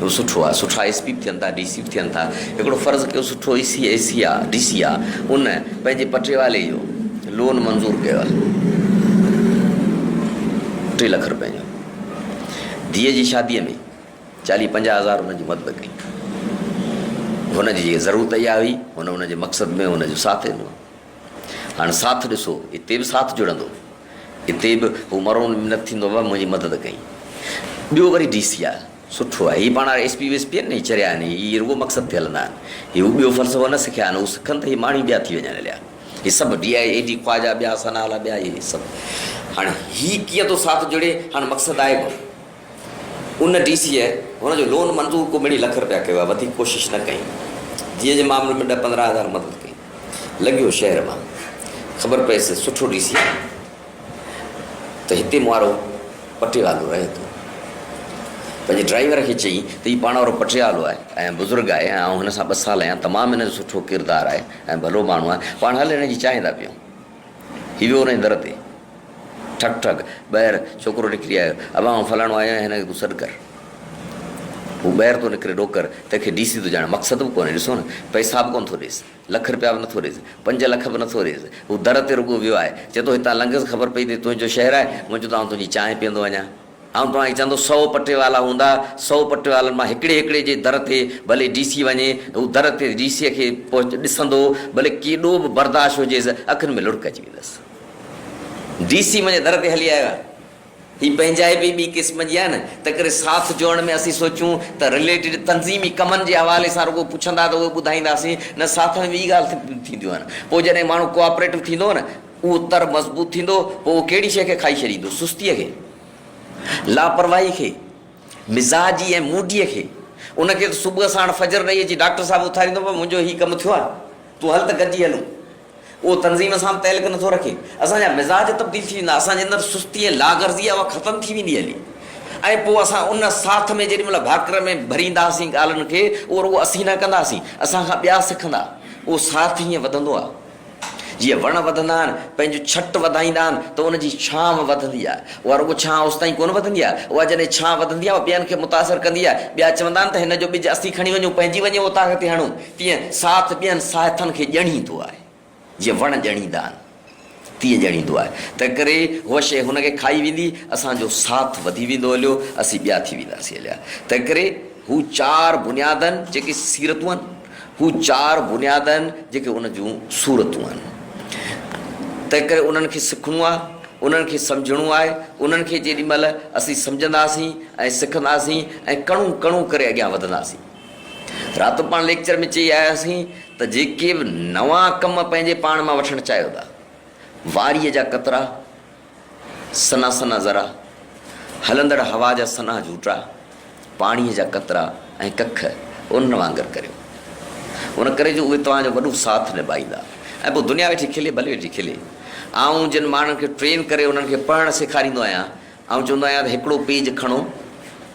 اهو سٺو آهي سٺا ايس پي به ٿين ٿا ڊي سي به ٿين ٿا هڪڙو فرض ڪيو سٺو اي سي اي سي آهي ڊي سي آهي ان پنهنجي پٽيوالي جو لون منظور ڪيو آهي ٽي لک روپين جو ڌيء جي شاديء ۾ چاليهه پنجاهه هزار هن جي مدد ڪئي هن جي جيڪي ضرورت اها هئي هن هن جي مقصد ۾ هن جو ساٿ ڏنو هاڻ ساٿ ڏسو، اتي به ساٿ جڙندو. اتي به هو مرو منت ٿيندو بابا منهنجي مدد ڪئي. ٻيو وري ڊي سي آء سٺو آهي. هي پاڻ هاڻ ايس پي ويس پي آهن نه هي چريا آهن هي هي رڳو مقصد تي هلندا آهن. هي هو ٻيو فلسفو نه سکيا آهن هو سکن ته هي ماڻهي ٻيا ٿي وڃن هليا. هي سڀ D I A D Khawaja ٻيا سنها لاء ٻيا هي سڀ. هاڻ هي ڪيئن ٿو ساٿ جڙي هاڻ مقصد آهي ڪو نه. ان ڊي سيء هن جو لون منظور ڪو ٻنهي لک رپيا ڪيو آهي، وڌيڪ ڪوشش نه ڪئي. ڌيء جي معاملي ۾ ڏهه پندرهن هزار مدد ڪئي. لنگهيو شهر مان. خبر پيس سٺو ڊي سي آهي ته هتي مئارو پٽيوالو رهي ٿو. پنهنجي ڊرائيور کي چئي ته هي پاڻ وارو پٽيوالو آهي ۽ بزرگ آهي ۽ آئون هن سان ٻه سال آهيان، تمام هن جو سٺو ڪردار آهي ۽ ڀلو ماڻهو آهي، پاڻ هل هن جي چانهه ٿا پيئون. هي ويو انهيء در تي. ٺڪ ٺڪ! ٻاهر ڇوڪرو نڪري آيو. ابا آئون فلاڻو آهيان، هن کي تون سڏ ڪر. هو ٻاهر ٿو نڪري ڏوڪر، تنهن کي ڊي سي ٿو ڄاڻي. مقصد به ڪونهي. ڏسو نه! پئسا به ڪونه ٿو ڏيس. لک رپيا به نٿو ڏيس. پنج لک به نٿو ڏيس. هو در تي رڳو ويو آهي. چئي ٿو، هتان لنگهس خبر پئي ته هي تنهنجو شهر آهي. مون چيو ته آئون تنهنجي چانهه پيئندو وڃان. آئون توهان کي چوندو سئو پٽيوالا هوندا، سئو پٽيوالن مان هڪڙي هڪڙي جي در تي ڀلي ڊي سي وڃي، هو در تي ڊي سيء کي پهچ ڏسندو، ڀلي ڪيڏو به برداشت هجيس، اکين ۾ لڙڪ اچي ويندس. ڊي سي منهنجي در تي هلي آيو آهي. هي پنهنجائي به ٻي قسم جي آهي نه، تنهنڪري ساٿ جوڙڻ ۾ اسين سوچيون ته رليٽيڊ تنظيمي ڪمن جي حوالي سان رڳو پڇندا ته اهي ٻڌائينداسين نه ساٿ ۾ ٻي ڳالهه به ٿينديون آهن. پوء جڏهن ماڻهو ڪوآپريٽو ٿيندو نه اهو تر مضبوط ٿيندو، پوء اهو ڪهڙي شيء کي کائي ڇڏيندو؟ سستيء کي، لاپرواهي کي، مزاجي ۽ موڊيء کي. ان کي ته صبح ساڻ فجر ڏئي اچي ڊاڪٽر صاحب اٿاريندو، پر منهنجو هي ڪم ٿيو آهي، تون هل ته گڏجي هلون. اهو تنظيم سان به تعلق نٿو رکي. اسان جا مزاج تبديل ٿي ويندا، اسان جي اندر سستي ۽ لاغرضي آهي، اها ختم ٿي ويندي هلي ۽ پوء اسان ان ساٿ ۾ جيڏي مهل ڀاڪر ۾ ڀرينداسين ڳالهن کي، اهو رڳو اسين نه ڪنداسين، اسان کان ٻيا سکندا. اهو ساٿ هيئن وڌندو آهي. جيئن وڻ وڌندا آهن، پنهنجون ڇٽ وڌائيندا آهن ته ان جي ڇانو وڌندي آهي. اها رڳو ڇانو اوستائين ڪونه وڌندي آهي، اها جڏهن ڇانو وڌندي آهي، اها ٻين کي متاثر ڪندي آهي. ٻيا چوندا آهن ته هن جو ٻج اسين کڻي وڃون، پنهنجي وڃي اوطاق تي هڻون. تيئن ساٿ ٻين ساهٿن کي ڄڻيندو آهي. جيئن وڻ ڄڻيندا آهن، تيئن ڄڻيندو آهي. تنهنڪري هوء شيء هن کي کائي ويندي، اسان جو ساٿ وڌي ويندو هليو، اسين ٻيا ٿي وينداسين هليا. تنهنڪري هو چار بنيادن، جيڪي سيرتون آهن، هو چار بنياد آهن جيڪي ان جون صورتون آهن. تنهنڪري انهن کي سکڻو آهي، انهن کي سمجهڻو آهي، انهن کي جيڏي مهل اسين سمجهنداسين ۽ سکنداسين ۽ ڪڻو ڪڻو ڪري اڳيان وڌنداسين. راتو پاڻ ليڪچر ۾ چئي آياسين ته جيڪي به نوان ڪم پنهنجي پاڻ مان وٺڻ چاهيو ٿا، واريء جا قطرا، سنها سنها ذرا، هلندڙ هوا جا سنها جهوٽڙا، پاڻيء جا قطرا ۽ ڪک انهن وانگر ڪريو. ان ڪري جو اهي توهان جو وڏو ساٿ نڀائيندا ۽ پوء دنيا ويٺي کلي، ڀلي ويٺي کلي. آئون جن ماڻهن کي ٽرين ڪري انهن کي پڙهڻ سيکاريندو آهيان، آئون چوندو آهيان ته هڪڙو پيج کڻو،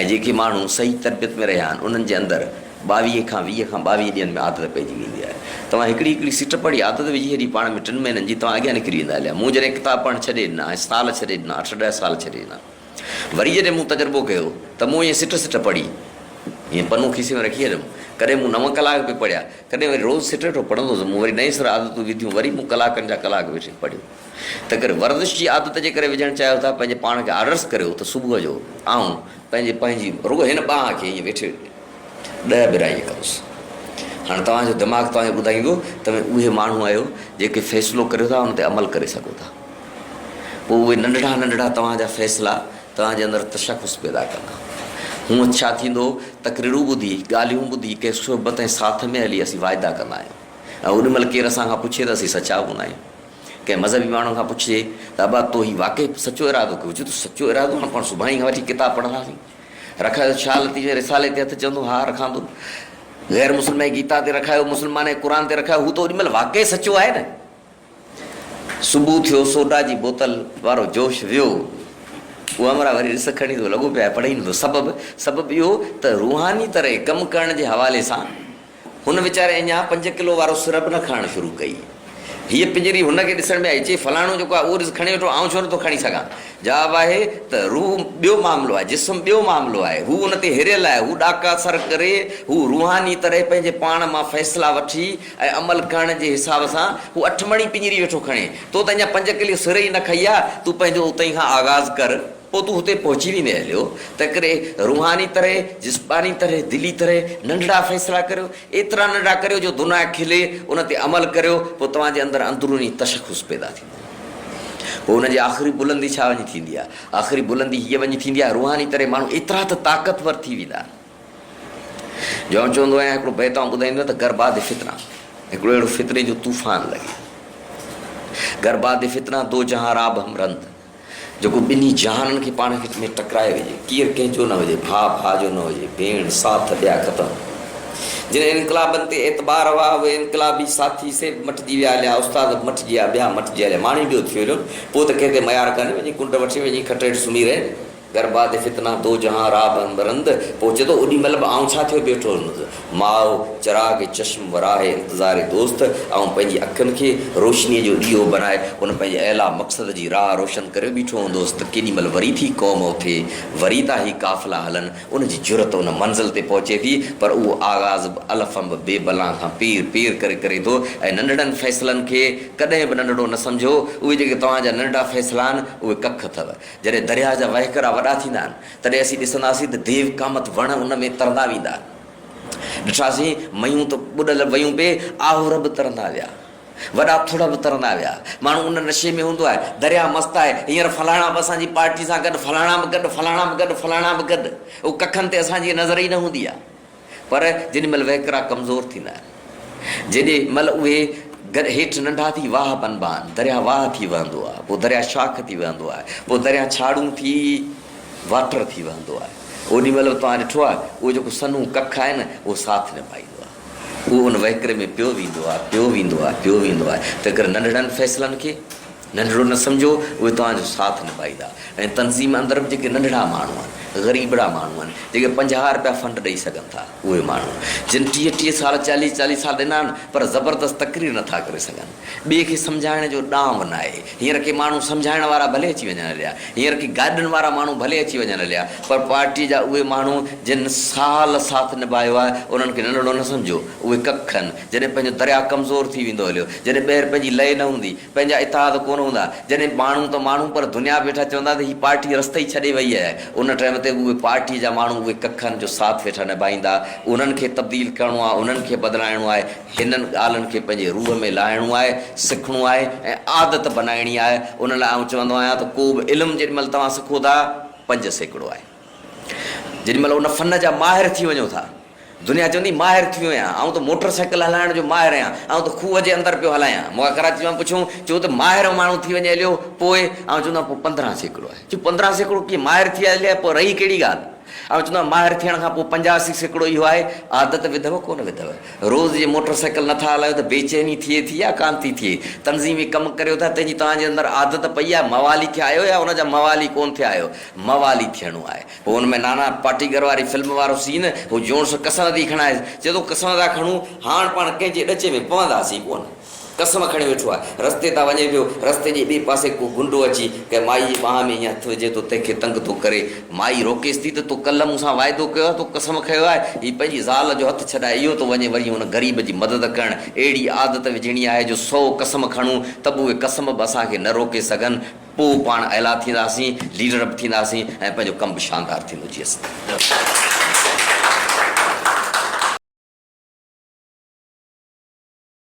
۽ جيڪي ماڻهو صحيح تربيت ۾ رهيا آهن انهن جي اندر ٻاويهه کان ويهه کان ٻاويهه ڏينهن ۾ عادت پئجي ويندي آهي. توهان هڪڙي هڪڙي سٽ پڙهي عادت وجهي ڇڏي پاڻ ۾ ٽن مهينن جي توهان اڳيان نڪري ويندا اليا مون جڏهن ڪتاب پڙهڻ ڇڏي ڏنا ۽ سال ڇڏي ڏنا اٺ ڏهه سال ڇڏي ڏنا وري جڏهن مون تجربو ڪيو ته مون ائين سٽ سٽ پڙهي ائين پنو کيسي ۾ رکي ڇڏيم ڪڏهن مون نو ڪلاڪ به پڙهيا ڪڏهن وري روز سٽ سٽ پڙهندو هوس مون وري نئين سر عادتون وڌيون وري مون ڪلاڪن جا ڪلاڪ ويٺي پڙهيو. تنهنڪري ورزش جي عادت جي ڪري وجهڻ چاهيو ٿا پنهنجي پاڻ کي آرڊرس ڪريو ته صبح جو آئون پنهنجي پنهنجي رڳو هن ٻانهه کي ائين ويٺي ڏهه ٻرائي ڪندس هاڻي توهان جو دماغ توهان کي ٻڌائيندو توهين اهي ماڻهو آهيو جيڪي فيصلو ڪريو ٿا ان تي عمل ڪري سگهو ٿا پوء اهي ننڍڙا ننڍڙا توهان جا فيصلا توهان جي اندر تشخص پيدا ڪندا هونء ڇا ٿيندو تقريرون ٻڌي ڳالهيون ٻڌي ڪنهن صحبت ۽ ساٿ ۾ هلي اسين واعدا ڪندا آهيون ۽ اڏ مهل ڪير اسان کان پڇي ته اسين سچا هوندا آهيون ڪنهن مذهبي ماڻهوء کان پڇجي ته ابا تو هي واقعي سچو ارادو ڪيو هجي ته سچو ارادو هاڻ پاڻ سڀاڻي کان وٺي ڪتاب پڙهنداسين. رکايو ڇا لطيف جي رسالي تي هٿ چوندو ها رکان ٿو. غير مسلمانئي گيتا تي رکايو مسلمانئي قرآن تي رکايو هو ته اوڏي مهل واقعي سچو آهي نه. صبح ٿيو سوڊا جي بوتل وارو جوش ويو. اوامرا وري رس کڻي ٿو لڳو پيو آهي پڙهي نٿو سبب سبب اهو ته روحاني طرح ڪم ڪرڻ جي حوالي سان هن ويچاري اڃا پنج ڪلو وارو سر به نه کڻڻ شروع ڪئي. هيء پڃري هن کي ڏسڻ ۾ آئي، چيس، فلاڻو جيڪو آهي، اهو ڏس کڻي ويٺو، آئون ڇو نٿو کڻي سگهان؟ جواب آهي ته، روح ٻيو معاملو آهي، جسم ٻيو معاملو آهي. هو ان تي هريل آهي، هو ڏاڪا سر ڪري، هو روحاني طرح پنهنجي پاڻ مان فيصلا وٺي ۽ عمل ڪرڻ جي حساب سان هو اٺ مڻي پڃري ويٺو کڻي. تو ته اڃا پنج ڪلو سر ئي نه کئي آهي، تون پنهنجو اتهين کان آغاز ڪر. پوء تون هتي پهچي ويندين اليو، تنهنڪري روحاني طرح، جسماني طرح، دلي طرح ننڍڙا فيصلا ڪريو، ايترا ننڍڙا ڪريو جو دنيا کلي، ان تي عمل ڪريو، پوء توهان جي اندر اندروني تشخص پيدا ٿيندو. پوء ان جي آخري بلندي ڇا وڃي ٿيندي آهي؟ آخري بلندي هيء وڃي ٿيندي آهي، روحاني طرح ماڻهو ايترا ته طاقتور ٿي ويندا آهن، جو آئون چوندو آهيان، هڪڙو بيت آئون ٻڌائيندو آهيان ته گرباد فتنه، هڪڙو اهڙو فتني جو طوفان لڳي، گرباد فتنه، دو جهان راب هم رند. جيڪو ٻنهي جهانن کي پاڻ وچ ۾ ٽڪرائي وجهي، ڪير ڪنهن جو نه هجي، ڀاء ڀاء جو نه هجي، ڀيڻ ساٿ ڏيا ختم. جن انقلابن تي اعتبار هئا، اهي انقلابي ساٿي سي به مٽجي ويا هليا، استاد به مٽجي ويا، ٻيا مٽجي هليا، ماڻي ٻيو ٿيو هليو، پوء ته ڪنهن تي ميار ڪانهي، وڃي ڪنڊ وٺي، وڃي کٽ هيٺ سمهي رهي. گر باد فتنه دو جهان را بند رند پوء چئي ٿو اوڏي مهل به آئون ڇا ٿيو بيٺو هوندس ماء چراغ چشم وراهه انتظار دوست آئون پنهنجي اکين کي روشني جو ڏيئو بنائي ان پنهنجي اعليٰ مقصد جي راهه روشن ڪري بيٺو هوندس ته ڪيڏي مهل وري ٿي قوم اٿي وري ٿا هي قافلا هلن ان جي جرئت ان منزل تي پهچي ٿي پر اهو آغاز به الف انب بي بلان کان پير پير ڪري ڪري ٿو ۽ ننڍڙن فيصلن کي ڪڏهن به ننڍڙو نه سمجهو اهي جيڪي توهان جا ننڍڙا فيصلا آهن اهي ڪک اٿو. جڏهن درياهه جا وهڪرا وڏا ٿيندا آهن، تڏهن اسين ڏسنداسين ته ديو ڪامٿ وڻ ان ۾ ترندا ويندا. ڏٺاسين ميون ته ٻڏل ويون پي، آهور به ترندا ويا. وڏا ٿڙ به ترندا ويا. ماڻهو ان نشي ۾ هوندو آهي. درياهه مست آهي. هينئر فلاڻا به اسان جي پارٽي سان گڏ، فلاڻا به گڏ، فلاڻا به گڏ، فلاڻا به گڏ. او ڪکن تي اسان جي نظر ئي نه هوندي آهي. پر جيڏي مھل وھڪرا ڪمزور ٿيندا آھن، جيڏي مھل اھي گر ھيٺ ننڍا ٿي واھه بنبا آھن، درياھه واھه ٿي وھندو آھي، پوء درياھه شاخ ٿي وھندو آھي، پوء درياھه ڇاڙھون ٿي واٽر ٿي وھندو آھي، اوڏي مھل به توھان ڏٺو آھي، اھو جيڪو سنھون ڪک آھي نه، اھو ساٿ نڀائيندو آھي، اھو ان وھڪري ۾ پيو ويندو آھي، پيو ويندو آھي، پيو ويندو آھي، تنھنڪري ننڍڙن فيصلن کي. ننڍڙو نه سمجهو، اهي توهان جو ساٿ نڀائيندا ۽ تنظيم اندر به جيڪي ننڍڙا ماڻهو آهن، غريبڙا ماڻهو آهن، جيڪي پنجاهه رپيا فنڊ ڏئي سگهن ٿا، اهي ماڻهو جن ٽيهه ٽيهه سال، چاليهه چاليهه سال ڏنا آهن پر زبردست تقرير نه ٿا ڪري سگهن. ٻئي کي سمجهائڻ جو ڏانء نه آهي. هينئر ڪي ماڻهو سمجهائڻ وارا ڀلي اچي وڃن هليا، هينئر ڪي گاڏن وارا ماڻهو ڀلي اچي وڃن هليا پر پارٽيء جا اهي ماڻهو جن سال ساٿ نڀايو آهي، انهن کي ننڍڙو نه سمجهو، اهي ڪک آهن، جڏهن پنهنجو درياء ڪمزور ٿي ويندو هليو، جڏهن ٻيهر پنهنجي لئي نه هوندي، پنهنجا اتحاد ڪونه هوندا جڏهن ماڻهو ته ماڻهو پر دنيا به ويٺا چوندا ته هي پارٽي رستي ئي ڇڏي وئي آهي ان ٽائيم تي اهي پارٽي جا ماڻهو اهي ڪک آهن جو ساٿ ويٺا نڀائيندا انهن کي تبديل ڪرڻو آهي انهن کي بدلائڻو آهي هنن ڳالهن کي پنهنجي روح ۾ لاهڻو آهي سکڻو آهي ۽ عادت بنائڻي آهي ان لاء آئون چوندو آهيان ته ڪو به علم جيڏي مهل توهان سکو ٿا پنج سيڪڙو آهي. جيڏي مھل ان فن جا ماھر ٿي وڃو ٿا، دنيا چوندي ماھر ٿي ويو آھيان، آئون ته موٽر سائيڪل ھلائڻ جو ماھر آھيان، آئون ته کوھه جي اندر پيو ھلايان، مون کان ڪراچي وارن پڇيو ھو چون ته ماھر ماڻھو ٿي وڃي ھليو پوء؟ آئون چوندو آھيان پوء پندرهن سيڪڙو آھي، چون پندرهن سيڪڙو ڪيئن ماھر ٿي آيو آھي، پوء رھي ڪھڙي ڳالھه؟ آئون چوندو آھيان ماھر ٿيڻ کان پوء پنجاسي سيڪڙو اھو آھي، عادت وڌئو ڪونه وڌئو، روز جي موٽر سائيڪل نه ٿا ھلايو ته بي چيني ٿئي ٿي يا ڪانه ٿي ٿئي، تنظيمي ڪم ڪريو ٿا تنھن جي توھان جي اندر عادت پئي آھي، موالي ٿيا آھيو يا ان جا موالي ڪونه ٿيا آھيو. موالي ٿيڻو آهي. پوء ان ۾ نانا پاٽيڪر واري فلم وارو سين هو جوڻس قسم ٿي کڻائيس. چئي ٿو قسم ٿا کڻون هاڻ پاڻ ڪنهن جي ڏچي ۾ پونداسين ڪونه. قسم کڻي ويٺو آهي. رستي تان وڃي پيو. رستي جي ٻئي پاسي ڪو گنڊو اچي ڪنهن مائي جي ٻانهن ۾ ايئن هٿ وجهي ٿو تنهن کي تنگ ٿو ڪري. مائي روڪيس ٿي ته تو ڪلهه مون سان واعدو ڪيو آهي تو قسم کيو آهي هي پنهنجي زال جو هٿ ڇڏائي اهو ٿو وڃي وري ان غريب جي مدد ڪرڻ. اهڙي عادت وجهڻي آهي جو سئو قسم کڻون ته به اهي قسم به اسان کي نه روڪي سگهن. پوء پاڻ اعليٰ ٿينداسين، ليڊر به ٿينداسين ۽ پنهنجو ڪم به شاندار ٿيندو. جي اسان.